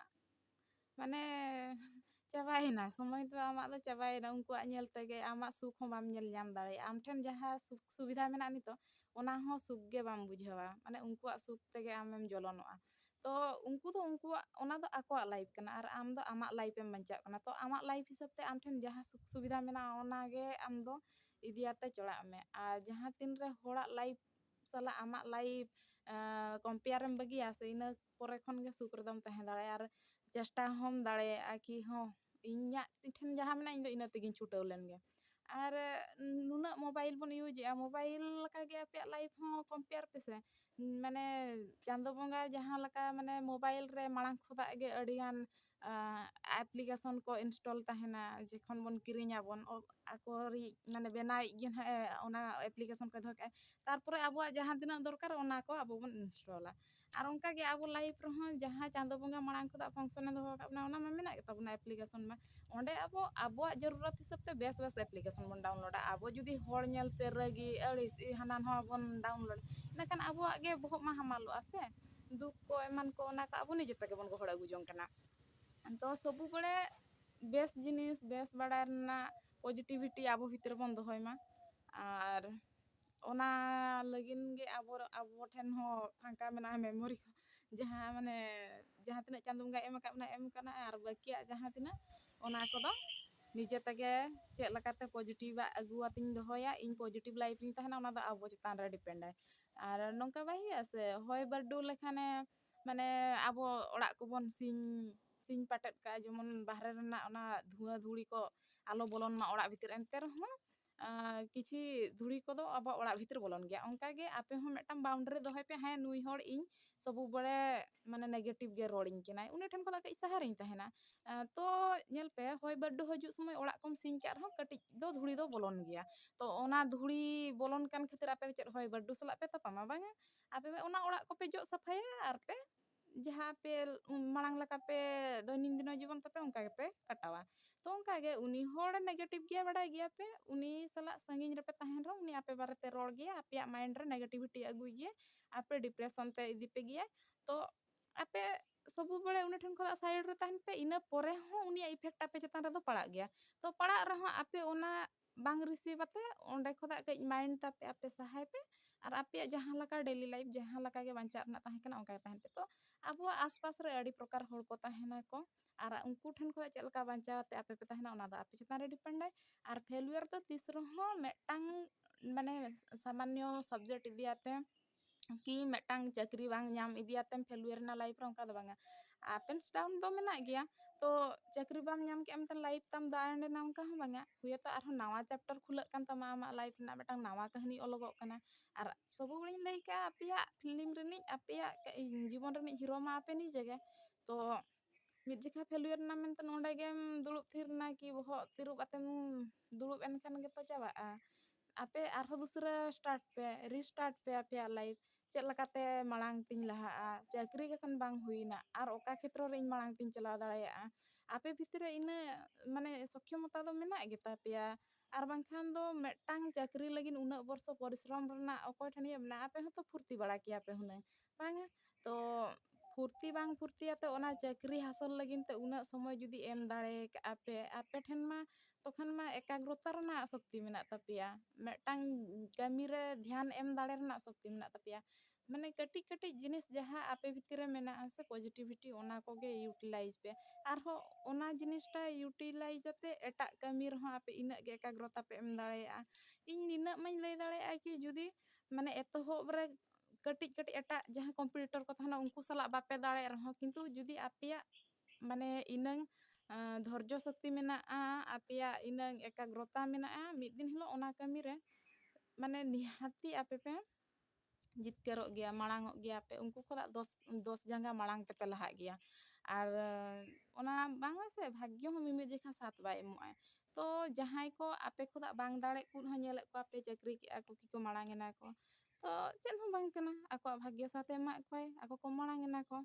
ᱢᱟᱱᱮ ᱪᱟᱵᱟᱭᱮᱱᱟ ᱥᱚᱢᱚᱭ ᱫᱚ ᱟᱢᱟᱜ ᱫᱚ ᱪᱟᱵᱟᱭᱮᱱᱟ ᱩᱱᱠᱩᱣᱟᱜ ᱧᱮᱞ ᱛᱮᱜᱮ ᱟᱢᱟᱜ ᱥᱩᱠ ᱦᱚᱸ ᱵᱟᱢ ᱧᱮᱞ ᱧᱟᱢ ᱫᱟᱲᱮᱭᱟᱜᱼᱟ ᱟᱢ ᱴᱷᱮᱱ ᱡᱟᱦᱟᱸ ᱥᱩᱠ ᱥᱩᱵᱤᱫᱷᱟ ᱢᱮᱱᱟᱜᱼᱟ ᱱᱤᱛᱚᱜ ᱚᱱᱟ ᱦᱚᱸ ᱥᱩᱠ ᱜᱮ ᱵᱟᱢ ᱵᱩᱡᱷᱟᱹᱣᱟ ᱢᱟᱱᱮ ᱩᱱᱠᱩᱣᱟᱜ ᱥᱩᱠ ᱛᱮᱜᱮ ᱟᱢᱮᱢ ᱡᱚᱞᱚᱱᱚᱜᱼᱟ ᱛᱚ ᱩᱱᱠᱩ ᱫᱚ ᱩᱱᱠᱩᱣᱟᱜ ᱚᱱᱟ ᱫᱚ ᱟᱠᱚᱣᱟᱜ ᱞᱟᱭᱤᱯᱷ ᱠᱟᱱᱟ ᱟᱨ ᱟᱢ ᱫᱚ ᱟᱢᱟᱜ ᱞᱟᱭᱤᱯᱷ ᱮᱢ ᱵᱟᱧᱪᱟᱜ ᱠᱟᱱᱟ ᱛᱚ ᱟᱢᱟᱜ ᱞᱟᱭᱤᱯᱷ ᱦᱤᱥᱟᱹᱵ ᱛᱮ ᱟᱢ ᱴᱷᱮᱱ ᱡᱟᱦᱟᱸ ᱥᱩᱠ ᱥᱩᱵᱤᱫᱷᱟ ᱢᱮᱱᱟᱜᱼᱟ ᱚᱱᱟ ᱜᱮ ᱟᱢ ᱫᱚ ᱤᱫᱤᱭᱟᱛᱮ ᱪᱟᱞᱟᱜ ᱢᱮ ᱟᱨ ᱡᱟᱦᱟᱸ ᱛᱤᱱ ᱨᱮ ᱦᱚᱲᱟᱜ ᱞᱟᱭᱤᱯᱷ ᱥᱟᱞᱟᱜ ᱟᱢᱟᱜ ᱞᱟᱭᱤᱯᱷ ᱠᱚᱢᱯᱮᱭᱟᱨ ᱮᱢ ᱵᱟᱹᱜᱤᱭᱟ ᱥᱮ ᱤᱱᱟᱹ ᱯᱚᱨᱮ ᱠᱷᱚᱱ ᱜᱮ ᱥᱩᱠ ᱨᱮᱫᱚᱢ ᱛᱟᱦᱮᱸ ᱫᱟᱲᱮᱭᱟᱜᱼᱟ ᱟᱨ ᱪᱮᱥᱴᱟ ᱦᱚᱸᱢ ᱫᱟᱲᱮᱭᱟᱜᱼᱟ ᱠᱤ ᱦᱚᱸ ᱤᱧᱟᱹᱜ ᱴᱷᱮᱱ ᱡᱟᱦᱟᱸ ᱢᱮᱱᱟᱜᱼᱟ ᱤᱧ ᱫᱚ ᱤᱱᱟᱹ ᱛᱮᱜᱮᱧ ᱪᱷᱩᱴᱟᱹᱣ ᱞᱮᱱ ᱜᱮ ᱟᱨ ᱱᱩᱱᱟᱹᱜ ᱢᱚᱵᱟᱭᱤᱞ ᱵᱚᱱ ᱤᱭᱩᱡᱮᱜᱼᱟ ᱢᱚᱵᱟᱭᱤᱞ ᱞᱮᱠᱟ ᱜᱮ ᱟᱯᱮᱭᱟᱜ ᱞᱟᱭᱤᱯᱷ ᱦᱚᱸ ᱠᱚᱢᱯᱮᱭᱟᱨ ᱯᱮᱥᱮ ᱢᱟᱱᱮ ᱪᱟᱸᱫᱚ ᱵᱚᱸᱜᱟ ᱡᱟᱦᱟᱸ ᱞᱮᱠᱟ ᱢᱟᱱᱮ ᱢᱚᱵᱟᱭᱤᱞ ᱨᱮ ᱢᱟᱲᱟᱝ ᱠᱷᱚᱱᱟᱜ ᱜᱮ ᱟᱹᱰᱤ ᱜᱟᱱ ᱮᱯᱞᱤᱠᱮᱥᱚᱱ ᱠᱚ ᱤᱱᱥᱴᱚᱞ ᱛᱟᱦᱮᱱᱟ ᱡᱚᱠᱷᱚᱱ ᱵᱚᱱ ᱠᱤᱨᱤᱧᱟ ᱵᱚᱱ ᱟᱠᱚ ᱨᱤᱡ ᱢᱟᱱᱮ ᱵᱮᱱᱟᱣᱤᱡ ᱜᱮ ᱦᱟᱸᱜ ᱮ ᱚᱱᱟ ᱮᱯᱞᱤᱠᱮᱥᱚᱱ ᱠᱚᱭ ᱫᱚᱦᱚ ᱠᱟᱜᱼᱟ ᱛᱟᱨᱯᱚᱨᱮ ᱟᱵᱚᱣᱟᱜ ᱡᱟᱦᱟᱸ ᱛᱤᱱᱟᱹᱜ ᱫᱚᱨᱠᱟᱨ ᱚᱱᱟ ᱠᱚ ᱟᱵᱚ ᱵᱚᱱ ᱤᱱᱥᱴᱚᱞᱟ ᱟᱨ ᱚᱱᱠᱟ ᱜᱮ ᱟᱵᱚ ᱞᱟᱭᱤᱯᱷ ᱨᱮᱦᱚᱸ ᱡᱟᱦᱟᱸ ᱪᱟᱸᱫᱚ ᱵᱚᱸᱜᱟ ᱢᱟᱲᱟᱝ ᱠᱷᱚᱱᱟᱜ ᱯᱷᱚᱝᱥᱚᱱᱮ ᱫᱚᱦᱚ ᱟᱠᱟᱫ ᱵᱚᱱᱟ ᱚᱱᱟ ᱢᱟ ᱢᱮᱱᱟᱜ ᱜᱮᱛᱟ ᱵᱚᱱᱟ ᱮᱯᱞᱤᱠᱮᱥᱚᱱ ᱢᱟ ᱚᱸᱰᱮ ᱟᱵᱚ ᱟᱵᱚᱣᱟᱜ ᱡᱟᱹᱨᱩᱨᱟᱛ ᱦᱤᱥᱟᱹᱵ ᱛᱮ ᱵᱮᱥ ᱵᱮᱥ ᱮᱯᱞᱤᱠᱮᱥᱚᱱ ᱵᱚᱱ ᱰᱟᱣᱩᱱᱞᱳᱰᱟ ᱟᱵᱚ ᱡᱩᱫᱤ ᱦᱚᱲ ᱧᱮᱞ ᱛᱮ ᱨᱟᱹᱜᱤ ᱟᱹᱲᱤᱥ ᱦᱟᱱᱟ ᱱᱚᱣᱟ ᱵᱚᱱ ᱰᱟᱣᱩᱱᱞᱳᱰ ᱤᱱᱟᱹᱠᱷᱟᱱ ᱟᱵᱚᱣᱟᱜ ᱜᱮ ᱵᱚᱦᱚᱜ ᱢᱟ ᱦᱟᱢᱟᱞᱚᱜᱼᱟ ᱥᱮ ᱫᱩᱠ ᱠᱚ ᱮᱢᱟᱱ ᱠᱚ ᱚᱱᱟ ᱠᱚ ᱟᱵᱚ ᱱᱤᱡᱮ ᱛᱮᱜᱮ ᱵᱚᱱ ᱜᱚᱦᱚᱲ ᱟᱹᱜᱩ ᱡᱚᱝ ᱠᱟᱱᱟ ᱛᱚ ᱥᱚᱵᱩ ᱵᱟᱲᱮ ᱵᱮᱥ ᱡᱤᱱᱤᱥ ᱵᱮᱥ ᱵᱟᱲᱟᱭ ᱨᱮᱱᱟᱜ ᱯᱚᱡᱮᱴᱤᱵᱷᱤᱴᱤ ᱟᱵᱚ ᱵᱷᱤᱛᱨᱤ ᱨᱮᱵᱚᱱ ᱫᱚᱦᱚᱭ ᱢᱟ ᱟᱨ ᱚᱱᱟ ᱞᱟᱹᱜᱤᱫ ᱜᱮ ᱟᱵᱚ ᱟᱵᱚ ᱴᱷᱮᱱ ᱦᱚᱸ ᱯᱷᱟᱸᱠᱟ ᱢᱮᱱᱟᱜᱼᱟ ᱢᱮᱢᱳᱨᱤ ᱠᱚ ᱡᱟᱦᱟᱸ ᱢᱟᱱᱮ ᱡᱟᱦᱟᱸ ᱛᱤᱱᱟᱹᱜ ᱪᱟᱸᱫᱚ ᱵᱚᱸᱜᱟᱭ ᱮᱢ ᱟᱠᱟᱫ ᱵᱚᱱᱟᱭ ᱮᱢ ᱠᱟᱱᱟ ᱟᱨ ᱵᱟᱹᱠᱤᱭᱟᱜ ᱡᱟᱦᱟᱸ ᱛᱤᱱᱟᱹᱜ ᱚᱱᱟ ᱠᱚᱫᱚ ᱱᱤᱡᱮ ᱛᱮᱜᱮ ᱪᱮᱫ ᱞᱮᱠᱟᱛᱮ ᱯᱚᱡᱮᱴᱤᱵᱷ ᱟᱜ ᱟᱹᱜᱩ ᱟᱛᱤᱧ ᱫᱚᱦᱚᱭᱟ ᱤᱧ ᱯᱚᱡᱮᱴᱤᱵᱷ ᱞᱟᱭᱤᱯᱷ ᱨᱤᱧ ᱛᱟᱦᱮᱱᱟ ᱚᱱᱟ ᱫᱚ ᱟᱵᱚ ᱪᱮᱛᱟᱱ ᱨᱮ ᱰᱤᱯᱮᱱᱰ ᱟᱭ ᱟᱨ ᱱᱚᱝᱠᱟ ᱵᱟᱭ ᱦᱩᱭᱩᱜᱼᱟ ᱥᱮ ᱦᱚᱭ ᱵᱟᱹᱨᱰᱩ ᱞᱮᱠᱷᱟᱱᱮ ᱢᱟᱱᱮ ᱟᱵᱚ ᱚᱲᱟᱜ ᱠᱚᱵᱚᱱ ᱥᱤᱧ ᱥᱤᱧ ᱯᱟᱴᱮᱫ ᱠᱟᱜᱼᱟ ᱡᱮᱢᱚᱱ ᱵᱟᱦᱨᱮ ᱨᱮᱱᱟᱜ ᱚᱱᱟ ᱫᱷᱩᱶᱟᱹ ᱫᱷᱩᱲᱤ ᱠᱚ ᱟᱞᱚ ᱵᱚᱞᱚᱱ ᱢᱟ ᱚᱲᱟᱜ ᱵᱷᱤᱛᱤᱨ ᱮᱱᱛᱮ ᱨᱮᱦᱚᱸ ᱠᱤᱪᱷᱤ ᱫᱷᱩᱲᱤ ᱠᱚᱫᱚ ᱟᱵᱚᱣᱟᱜ ᱚᱲᱟᱜ ᱵᱷᱤᱛᱤᱨ ᱵᱚᱞᱚᱱ ᱜᱮᱭᱟ ᱚᱱᱠᱟ ᱜᱮ ᱟᱯᱮ ᱦᱚᱸ ᱢᱤᱫᱴᱟᱝ ᱵᱟᱣᱩᱱᱰᱟᱨᱤ ᱫᱚᱦᱚᱭ ᱯᱮ ᱦᱮᱸ ᱱᱩᱭ ᱦᱚᱲ ᱤᱧ ᱥᱚᱵᱩ ᱵᱟᱲᱮ ᱢᱟᱱᱮ ᱱᱮᱜᱮᱴᱤᱵᱷ ᱜᱮ ᱨᱚᱲᱤᱧ ᱠᱟᱱᱟᱭ ᱩᱱᱤ ᱴᱷᱮᱱ ᱠᱷᱚᱱᱟᱜ ᱠᱟᱹᱡ ᱥᱟᱦᱟ ᱨᱤᱧ ᱛᱟᱦᱮᱱᱟ ᱛᱚ ᱧᱮᱞ ᱯᱮ ᱦᱚᱭ ᱵᱟᱹᱨᱰᱩ ᱦᱤᱡᱩᱜ ᱥᱚᱢᱚᱭ ᱚᱲᱟᱜ ᱠᱚᱢ ᱥᱤᱧ ᱠᱟᱜ ᱨᱮᱦᱚᱸ ᱠᱟᱹᱴᱤᱡ ᱫᱚ ᱫᱷᱩᱲᱤ ᱫᱚ ᱵᱚᱞᱚᱱ ᱜᱮᱭᱟ ᱛᱚ ᱚᱱᱟ ᱫᱷᱩᱲᱤ ᱵᱚᱞᱚᱱ ᱠᱟᱱ ᱠᱷᱟᱹᱛᱤᱨ ᱟᱯᱮ ᱫᱚ ᱪᱮᱫ ᱦᱚᱭ ᱵᱟᱹᱨᱰᱩ ᱥᱟᱞᱟᱜ ᱯᱮ ᱛᱟᱯᱟᱢᱟ ᱵᱟᱝᱟ ᱟᱯᱮ ᱚᱱᱟ ᱚᱲᱟᱜ ᱠᱚᱯᱮ ᱡᱚᱜ ᱥᱟᱯᱷᱟᱭᱟ ᱟᱨ ᱯᱮ ᱡᱟᱦᱟᱸ ᱯᱮ ᱢᱟᱲᱟᱝ ᱞᱮᱠᱟ ᱯᱮ ᱫᱚᱭᱱᱤᱝ ᱫᱤᱱᱚ ᱡᱤᱵᱚᱱ ᱛᱟᱯᱮ ᱚᱱᱠᱟ ᱜᱮᱯᱮ ᱠᱟᱴᱟᱣᱟ ᱛᱚ ᱚᱱᱠᱟ ᱜᱮ ᱩᱱᱤ ᱦᱚᱲ ᱱᱮᱜᱮᱴᱤᱵᱷ ᱜᱮᱭᱟ ᱵᱟᱰᱟᱭ ᱜᱮᱭᱟ ᱯᱮ ᱩᱱᱤ ᱥᱟᱞᱟᱜ ᱥᱟᱺᱜᱤᱧ ᱨᱮᱯᱮ ᱛᱟᱦᱮᱱ ᱨᱮᱦᱚᱸ ᱩᱱᱤ ᱟᱯᱮ ᱵᱟᱨᱮᱛᱮ ᱨᱚᱲ ᱜᱮᱭᱟ ᱟᱯᱮᱭᱟᱜ ᱢᱟᱭᱤᱱᱰ ᱨᱮ ᱱᱮᱜᱮᱴᱤᱵᱷᱤᱴᱤ ᱟᱹᱜᱩᱭ ᱜᱮᱭᱟ ᱟᱯᱮ ᱰᱤᱯᱨᱮᱥᱚᱱ ᱛᱮ ᱤᱫᱤ ᱯᱮ ᱜᱮᱭᱟᱭ ᱛᱚ ᱟᱯᱮ ᱥᱚᱵᱩ ᱵᱟᱲᱮ ᱩᱱᱤ ᱴᱷᱮᱱ ᱠᱷᱚᱱᱟᱜ ᱥᱟᱭᱤᱰ ᱨᱮ ᱛᱟᱦᱮᱱ ᱯᱮ ᱤᱱᱟᱹ ᱯᱚᱨᱮ ᱦᱚᱸ ᱩᱱᱤᱭᱟᱜ ᱤᱯᱷᱮᱠᱴ ᱟᱯᱮ ᱪᱮᱛᱟᱱ ᱨᱮᱫᱚ ᱯᱟᱲᱟᱜ ᱜᱮᱭᱟ ᱛᱚ ᱯᱟᱲᱟᱜ ᱨᱮᱦᱚᱸ ᱟᱯᱮ ᱚᱱᱟ ᱵᱟᱝ ᱨᱤᱥᱤᱵᱷ ᱟᱛᱮ ᱚᱸᱰᱮ ᱠᱷᱚᱱᱟᱜ ᱠᱟᱹᱡ ᱢᱟᱭᱤᱱᱰ ᱛᱟᱯᱮ ᱟᱯᱮ ᱥᱟᱦᱟᱭ ᱯᱮ ᱟᱨ ᱟᱯᱮᱭᱟᱜ ᱡᱟᱦᱟᱸ ᱞᱮᱠᱟ ᱰᱮᱞᱤ ᱞᱟᱭᱤᱯᱷ ᱡᱟᱦᱟᱸ ᱞᱮᱠᱟ ᱜᱮ ᱵᱟᱧᱪᱟᱜ ᱨᱮᱱᱟᱜ ᱛᱟᱦᱮᱸ ᱠᱟᱱᱟ ᱚᱱᱠᱟ ᱜᱮ ᱛᱟᱦᱮᱱ ᱯᱮ ᱛᱚ ᱟᱵᱚᱣᱟᱜ ᱟᱥ ᱯᱟᱥ ᱨᱮ ᱟᱹᱰᱤ ᱯᱨᱚᱠᱟᱨ ᱦᱚᱲ ᱠᱚ ᱛᱟᱦᱮᱱᱟᱠᱚ ᱟᱨ ᱩᱱᱠᱩ ᱴᱷᱮᱱ ᱠᱷᱚᱱᱟᱜ ᱪᱮᱫ ᱞᱮᱠᱟ ᱵᱟᱧᱪᱟᱣ ᱟᱛᱮ ᱟᱯᱮ ᱯᱮ ᱛᱟᱦᱮᱱᱟ ᱚᱱᱟ ᱫᱚ ᱟᱯᱮ ᱪᱮᱛᱟᱱ ᱨᱮ ᱰᱤᱯᱮᱱᱰ ᱟᱭ ᱟᱨ ᱯᱷᱮᱞᱭᱩᱭᱟᱨ ᱫᱚ ᱛᱤᱥ ᱨᱮᱦᱚᱸ ᱢᱤᱫᱴᱟᱝ ᱢᱟᱱᱮ ᱥᱟᱢᱟᱱᱱᱚ ᱥᱟᱵᱽᱡᱮᱠᱴ ᱤᱫᱤᱭᱟᱛᱮ ᱠᱤ ᱢᱤᱫᱴᱟᱝ ᱪᱟᱹᱠᱨᱤ ᱵᱟᱝ ᱧᱟᱢ ᱤᱫᱤ ᱟᱛᱮᱢ ᱯᱷᱮᱞᱭᱩᱭᱟᱨ ᱮᱱᱟ ᱞᱟᱭᱤᱯᱷ ᱨᱮ ᱚᱱᱠᱟ ᱫᱚ ᱵᱟᱝᱟ ᱟᱯ ᱮᱱᱰ ᱰᱟᱣᱩᱱ ᱫᱚ ᱢᱮᱱᱟᱜ ᱜᱮᱭᱟ ᱛᱚ ᱪᱟᱹᱠᱨᱤ ᱵᱟᱢ ᱧᱟᱢ ᱠᱮᱜᱼᱟ ᱢᱮᱱᱛᱮ ᱞᱟᱭᱤᱯᱷ ᱛᱟᱢ ᱫᱚ ᱮᱱᱰ ᱮᱱᱟ ᱚᱱᱠᱟ ᱦᱚᱸ ᱵᱟᱝᱟ ᱦᱩᱭ ᱟᱛᱚ ᱟᱨᱦᱚᱸ ᱱᱟᱣᱟ ᱪᱮᱯᱴᱟᱨ ᱠᱷᱩᱞᱟᱹᱜ ᱠᱟᱱ ᱛᱟᱢᱟ ᱟᱢᱟᱜ ᱞᱟᱭᱤᱯᱷ ᱨᱮᱱᱟᱜ ᱢᱤᱫᱴᱟᱝ ᱱᱟᱣᱟ ᱠᱟᱹᱦᱱᱤ ᱚᱞᱚᱜᱚᱜ ᱠᱟᱱᱟ ᱟᱨ ᱥᱚᱵᱩ ᱜᱷᱟᱹᱲᱤᱡ ᱤᱧ ᱞᱟᱹᱭ ᱠᱟᱜᱼᱟ ᱟᱯᱮᱭᱟᱜ ᱯᱷᱤᱞᱤᱢ ᱨᱤᱱᱤᱡ ᱟᱯᱮᱭᱟᱜ ᱡᱤᱵᱚᱱ ᱨᱤᱱᱤᱡ ᱦᱤᱨᱳ ᱢᱟ ᱟᱯᱮ ᱱᱤᱡᱮ ᱜᱮ ᱛᱚ ᱢᱤᱫ ᱡᱚᱠᱷᱟ ᱯᱷᱮᱞᱩᱭᱟᱨ ᱮᱱᱟ ᱢᱮᱱᱛᱮ ᱱᱚᱸᱰᱮ ᱜᱮᱢ ᱫᱩᱲᱩᱵ ᱛᱷᱤᱨ ᱮᱱᱟ ᱠᱤ ᱵᱚᱦᱚᱜ ᱛᱤᱨᱩᱵ ᱟᱛᱮᱢ ᱫᱩᱲᱩᱵ ᱮᱱ ᱠᱷᱟᱱ ᱜᱮᱛᱚ ᱪᱟᱵᱟᱜᱼᱟ ᱟᱯᱮ ᱟᱨᱦᱚᱸ ᱫᱚᱥᱨᱟ ᱥᱴᱟᱨᱴ ᱯᱮ ᱨᱤᱥᱴᱟᱨᱴ ᱯᱮ ᱟᱯᱮᱭᱟᱜ ᱞᱟᱭᱤᱯᱷ ᱪᱮᱫ ᱞᱮᱠᱟᱛᱮ ᱢᱟᱲᱟᱝ ᱛᱤᱧ ᱞᱟᱦᱟᱜᱼᱟ ᱪᱟᱹᱠᱨᱤ ᱜᱮᱥᱮᱱ ᱵᱟᱝ ᱦᱩᱭᱮᱱᱟ ᱟᱨ ᱚᱠᱟ ᱠᱷᱮᱛᱨᱚ ᱨᱮ ᱤᱧ ᱢᱟᱲᱟᱝ ᱛᱤᱧ ᱪᱟᱞᱟᱣ ᱫᱟᱲᱮᱭᱟᱜᱼᱟ ᱟᱯᱮ ᱵᱷᱤᱛᱨᱤ ᱨᱮ ᱤᱱᱟᱹ ᱢᱟᱱᱮ ᱥᱚᱠᱠᱷᱚᱢᱚᱛᱟ ᱫᱚ ᱢᱮᱱᱟᱜ ᱜᱮᱛᱟ ᱯᱮᱭᱟ ᱟᱨ ᱵᱟᱝᱠᱷᱟᱱ ᱫᱚ ᱢᱤᱫᱴᱟᱝ ᱪᱟᱹᱠᱨᱤ ᱞᱟᱹᱜᱤᱫ ᱩᱱᱟᱹᱜ ᱵᱚᱨᱥᱚ ᱯᱚᱨᱤᱥᱨᱚᱢ ᱨᱮᱱᱟᱜ ᱚᱠᱚᱭ ᱴᱷᱮᱱ ᱤᱭᱟᱹ ᱢᱮᱱᱟᱜᱼᱟ ᱟᱯᱮ ᱦᱚᱸᱛᱚ ᱯᱷᱩᱨᱛᱤ ᱵᱟᱲᱟ ᱠᱮᱭᱟ ᱯᱮ ᱦᱩᱱᱟᱹᱝ ᱵᱟᱝᱟ ᱛᱚ ᱯᱷᱩᱨᱛᱤ ᱵᱟᱝ ᱯᱷᱩᱨᱛᱤ ᱟᱛᱮᱫ ᱚᱱᱟ ᱪᱟᱹᱠᱨᱤ ᱦᱟᱥᱚᱞ ᱞᱟᱹᱜᱤᱫ ᱛᱮ ᱩᱱᱟᱹᱜ ᱥᱚᱢᱚᱭ ᱡᱩᱫᱤ ᱮᱢ ᱫᱟᱲᱮ ᱠᱟᱜᱼᱟ ᱯᱮ ᱟᱯᱮ ᱴᱷᱮᱱ ᱢᱟ ᱛᱚᱠᱷᱚᱱ ᱢᱟ ᱮᱠᱟᱜᱽᱨᱚᱛᱟ ᱨᱮᱱᱟᱜ ᱥᱚᱠᱛᱤ ᱢᱮᱱᱟᱜ ᱛᱟᱯᱮᱭᱟ ᱢᱤᱫᱴᱟᱝ ᱠᱟᱹᱢᱤ ᱨᱮ ᱫᱷᱮᱭᱟᱱ ᱮᱢ ᱫᱟᱲᱮ ᱨᱮᱱᱟᱜ ᱥᱚᱠᱛᱤ ᱢᱮᱱᱟᱜ ᱛᱟᱯᱮᱭᱟ ᱢᱟᱱᱮ ᱠᱟᱹᱴᱤᱡ ᱠᱟᱹᱴᱤᱡ ᱡᱤᱱᱤᱥ ᱡᱟᱦᱟᱸ ᱟᱯᱮ ᱵᱷᱤᱛᱤᱨ ᱨᱮ ᱢᱮᱱᱟᱜᱼᱟ ᱥᱮ ᱯᱚᱡᱤᱴᱤᱵᱷᱤᱴᱤ ᱚᱱᱟ ᱠᱚᱜᱮ ᱤᱭᱩᱴᱤᱞᱟᱭᱤᱡᱽ ᱯᱮ ᱟᱨᱦᱚᱸ ᱚᱱᱟ ᱡᱤᱱᱤᱥᱴᱟ ᱤᱭᱩᱴᱤᱞᱟᱭᱤᱡᱽ ᱟᱛᱮᱫ ᱮᱴᱟᱜ ᱠᱟᱹᱢᱤ ᱨᱮᱦᱚᱸ ᱟᱯᱮ ᱤᱱᱟᱹᱜ ᱜᱮ ᱮᱠᱟᱜᱽᱨᱚᱛᱟ ᱯᱮ ᱮᱢ ᱫᱟᱲᱮᱭᱟᱜᱼᱟ ᱤᱧ ᱱᱤᱱᱟᱹᱜ ᱢᱟᱧ ᱞᱟᱹᱭ ᱫᱟᱲᱮᱭᱟᱜᱼᱟ ᱠᱤ ᱡᱩᱫᱤ ᱢᱟᱱᱮ ᱮᱛᱚᱦᱚᱵ ᱨᱮ ᱠᱟᱹᱴᱤᱡ ᱠᱟᱹᱴᱤᱡ ᱮᱴᱟᱜ ᱡᱟᱦᱟᱸ ᱠᱚᱢᱯᱤᱴᱤᱴᱚᱨ ᱠᱚ ᱛᱟᱦᱮᱱᱟ ᱩᱱᱠᱩ ᱥᱟᱞᱟᱜ ᱵᱟᱯᱮ ᱫᱟᱲᱮᱭᱟᱜ ᱨᱮᱦᱚᱸ ᱠᱤᱱᱛᱩ ᱡᱩᱫᱤ ᱟᱯᱮᱭᱟᱜ ᱢᱟᱱᱮ ᱤᱱᱟᱹᱝ ᱫᱷᱚᱨᱡᱚ ᱥᱚᱠᱛᱤ ᱢᱮᱱᱟᱜᱼᱟ ᱟᱯᱮᱭᱟᱜ ᱤᱱᱟᱹᱝ ᱮᱠᱟᱜᱽᱨᱚᱛᱟ ᱢᱮᱱᱟᱜᱼᱟ ᱢᱤᱫ ᱫᱤᱱ ᱦᱤᱞᱳᱜ ᱚᱱᱟ ᱠᱟᱹᱢᱤ ᱨᱮ ᱢᱟᱱᱮ ᱱᱤᱦᱟᱹᱛᱤ ᱟᱯᱮ ᱯᱮ ᱡᱤᱛᱠᱟᱹᱨᱚᱜ ᱜᱮᱭᱟ ᱢᱟᱲᱟᱝ ᱚᱜ ᱜᱮᱭᱟ ᱯᱮ ᱩᱱᱠᱩ ᱠᱷᱚᱱᱟᱜ ᱫᱚᱥ ᱫᱚᱥ ᱡᱟᱸᱜᱟ ᱢᱟᱲᱟᱝ ᱛᱮᱯᱮ ᱞᱟᱦᱟᱜ ᱜᱮᱭᱟ ᱟᱨ ᱚᱱᱟ ᱵᱟᱝᱟ ᱥᱮ ᱵᱷᱟᱜᱽᱜᱚ ᱦᱚᱸ ᱢᱤᱢᱤᱫ ᱡᱚᱠᱷᱟ ᱥᱟᱛ ᱵᱟᱭ ᱮᱢᱚᱜ ᱟᱭ ᱛᱚ ᱡᱟᱦᱟᱸᱭ ᱠᱚ ᱟᱯᱮ ᱠᱷᱚᱱᱟᱜ ᱵᱟᱝ ᱫᱟᱲᱮᱜ ᱠᱚ ᱦᱚᱸ ᱧᱮᱞᱮᱫ ᱠᱚᱣᱟ ᱯᱮ ᱪᱟᱹᱠᱨᱤ ᱠᱮᱜᱼᱟ ᱠᱚ ᱠᱤ ᱠᱚ ᱢᱟᱲᱟᱝ ᱮᱱᱟ ᱠᱚ ᱛᱚ ᱪᱮᱫ ᱦᱚᱸ ᱵᱟᱝ ᱠᱟᱱᱟ ᱟᱠᱚᱣᱟᱜ ᱵᱷᱟᱜᱽᱜᱚ ᱥᱟᱛᱮ ᱮᱢᱟᱜ ᱠᱚᱣᱟᱭ ᱟᱠᱚ ᱠᱚ ᱢᱟᱲᱟᱝ ᱮᱱᱟ ᱠᱚ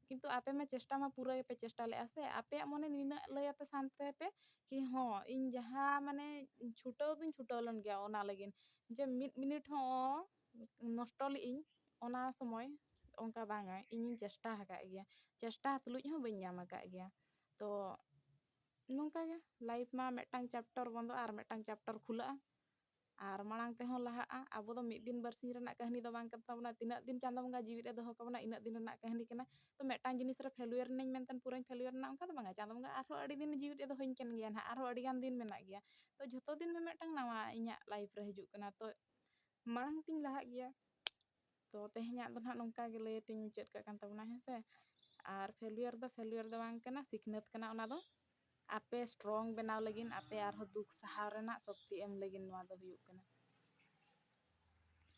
ᱠᱤᱱᱛᱩ ᱟᱯᱮ ᱢᱟ ᱪᱮᱥᱴᱟ ᱢᱟ ᱯᱩᱨᱟᱹ ᱜᱮᱯᱮ ᱪᱮᱥᱴᱟ ᱞᱮᱫᱼᱟ ᱥᱮ ᱟᱯᱮᱭᱟᱜ ᱢᱚᱱᱮ ᱱᱤᱱᱟᱹᱜ ᱞᱟᱹᱭ ᱟᱯᱮ ᱥᱟᱱ ᱛᱟᱦᱮᱸ ᱯᱮ ᱠᱤ ᱦᱚᱸ ᱤᱧ ᱡᱟᱦᱟᱸ ᱢᱟᱱᱮ ᱪᱷᱩᱴᱟᱹᱣ ᱫᱩᱧ ᱪᱷᱩᱴᱟᱹᱣ ᱞᱮᱱ ᱜᱮᱭᱟ ᱚᱱᱟ ᱞᱟᱹᱜᱤᱫ ᱡᱮ ᱢᱤᱫ ᱢᱤᱱᱤᱴ ᱦᱚᱸ ᱱᱚᱥᱴᱚ ᱞᱮᱫ ᱟᱹᱧ ᱚᱱᱟ ᱥᱚᱢᱚᱭ ᱚᱱᱠᱟ ᱵᱟᱝᱟ ᱤᱧᱤᱧ ᱪᱮᱥᱴᱟ ᱟᱠᱟᱫ ᱜᱮᱭᱟ ᱪᱮᱥᱴᱟ ᱛᱩᱞᱩᱡ ᱦᱚᱸ ᱵᱟᱹᱧ ᱧᱟᱢ ᱟᱠᱟᱫ ᱜᱮᱭᱟ ᱛᱚ ᱱᱚᱝᱠᱟ ᱜᱮ ᱞᱟᱭᱤᱯᱷ ᱢᱟ ᱢᱤᱫᱴᱟᱝ ᱪᱮᱯᱴᱟᱨ ᱵᱚᱱᱫᱚᱜᱼᱟ ᱟᱨ ᱢᱤᱫᱴᱟᱝ ᱪᱮᱯᱴᱟᱨ ᱠᱷᱩᱞᱟᱹᱜᱼᱟ ᱟᱨ ᱢᱟᱲᱟᱝ ᱛᱮᱦᱚᱸ ᱞᱟᱦᱟᱜᱼᱟ ᱟᱵᱚ ᱫᱚ ᱢᱤᱫ ᱫᱤᱱ ᱵᱟᱨᱥᱤᱧ ᱨᱮᱱᱟᱜ ᱠᱟᱹᱦᱱᱤ ᱫᱚ ᱵᱟᱝ ᱠᱟᱱ ᱛᱟᱵᱚᱱᱟ ᱛᱤᱱᱟᱹᱜ ᱫᱤᱱ ᱪᱟᱸᱫᱚ ᱵᱚᱸᱜᱟ ᱡᱤᱣᱤ ᱨᱮ ᱫᱚᱦᱚ ᱠᱟᱵᱚᱱᱟ ᱤᱱᱟᱹᱜ ᱫᱤᱱ ᱨᱮᱱᱟᱜ ᱠᱟᱹᱦᱱᱤ ᱠᱟᱱᱟ ᱛᱚ ᱢᱤᱫᱴᱟᱝ ᱡᱤᱱᱤᱥ ᱨᱮ ᱯᱷᱮᱞᱩᱭᱟᱨ ᱮᱱᱟᱹᱧ ᱢᱮᱱᱛᱮ ᱯᱩᱨᱟᱹᱧ ᱯᱷᱮᱞᱩᱭᱟᱨ ᱮᱱᱟ ᱚᱱᱠᱟ ᱫᱚ ᱵᱟᱝᱟ ᱪᱟᱸᱫᱚ ᱵᱚᱸᱜᱟ ᱟᱨᱦᱚᱸ ᱟᱹᱰᱤ ᱫᱤᱱ ᱡᱤᱣᱤ ᱨᱮ ᱫᱚᱦᱚᱧ ᱠᱟᱱ ᱜᱮᱭᱟ ᱱᱟᱦᱟᱜ ᱟᱨᱦᱚᱸ ᱟᱹᱰᱤ ᱜᱟᱱ ᱫᱤᱱ ᱢᱮᱱᱟᱜ ᱜᱮᱭᱟ ᱛᱚ ᱡᱷᱚᱛᱚ ᱫᱤᱱ ᱢᱤᱫᱴᱟᱝ ᱱᱟᱣᱟ ᱤᱧᱟᱹᱜ ᱞᱟᱭᱤᱯᱷ ᱨᱮ ᱦᱤᱡᱩᱜ ᱠᱟᱱᱟ ᱛᱚ ᱢᱟᱲᱟᱝ ᱛᱤᱧ ᱞᱟᱦᱟᱜ ᱜᱮᱭᱟ ᱛᱚ ᱛᱮᱦᱮᱧᱟᱜ ᱫᱚ ᱱᱟᱦᱟᱜ ᱱᱚᱝᱠᱟ ᱜᱮ ᱞᱟᱹᱭ ᱟᱛᱮᱧ ᱢᱩᱪᱟᱹᱫ ᱠᱟᱜ ᱠᱟᱱ ᱛᱟᱵᱚᱱᱟ ᱦᱮᱸ ᱥᱮ ᱟᱨ ᱯᱷᱮᱞᱭᱩᱭᱟᱨ ᱫᱚ ᱯᱷᱮᱞᱭᱩᱭᱟᱨ ᱫᱚ ᱵᱟᱝ ᱠᱟᱱᱟ ᱥᱤᱠᱷᱱᱟᱹᱛ ᱠᱟᱱᱟ ᱚᱱᱟ ᱫᱚ ᱟᱯᱮ ᱥᱴᱨᱚᱝ ᱵᱮᱱᱟᱣ ᱞᱟᱹᱜᱤᱫ ᱟᱯᱮ ᱟᱨᱦᱚᱸ ᱫᱩᱠ ᱥᱟᱦᱟᱣ ᱨᱮᱱᱟᱜ ᱥᱚᱠᱛᱤ ᱮᱢ ᱞᱟᱹᱜᱤᱫ ᱱᱚᱣᱟ ᱫᱚ ᱦᱩᱭᱩᱜ ᱠᱟᱱᱟ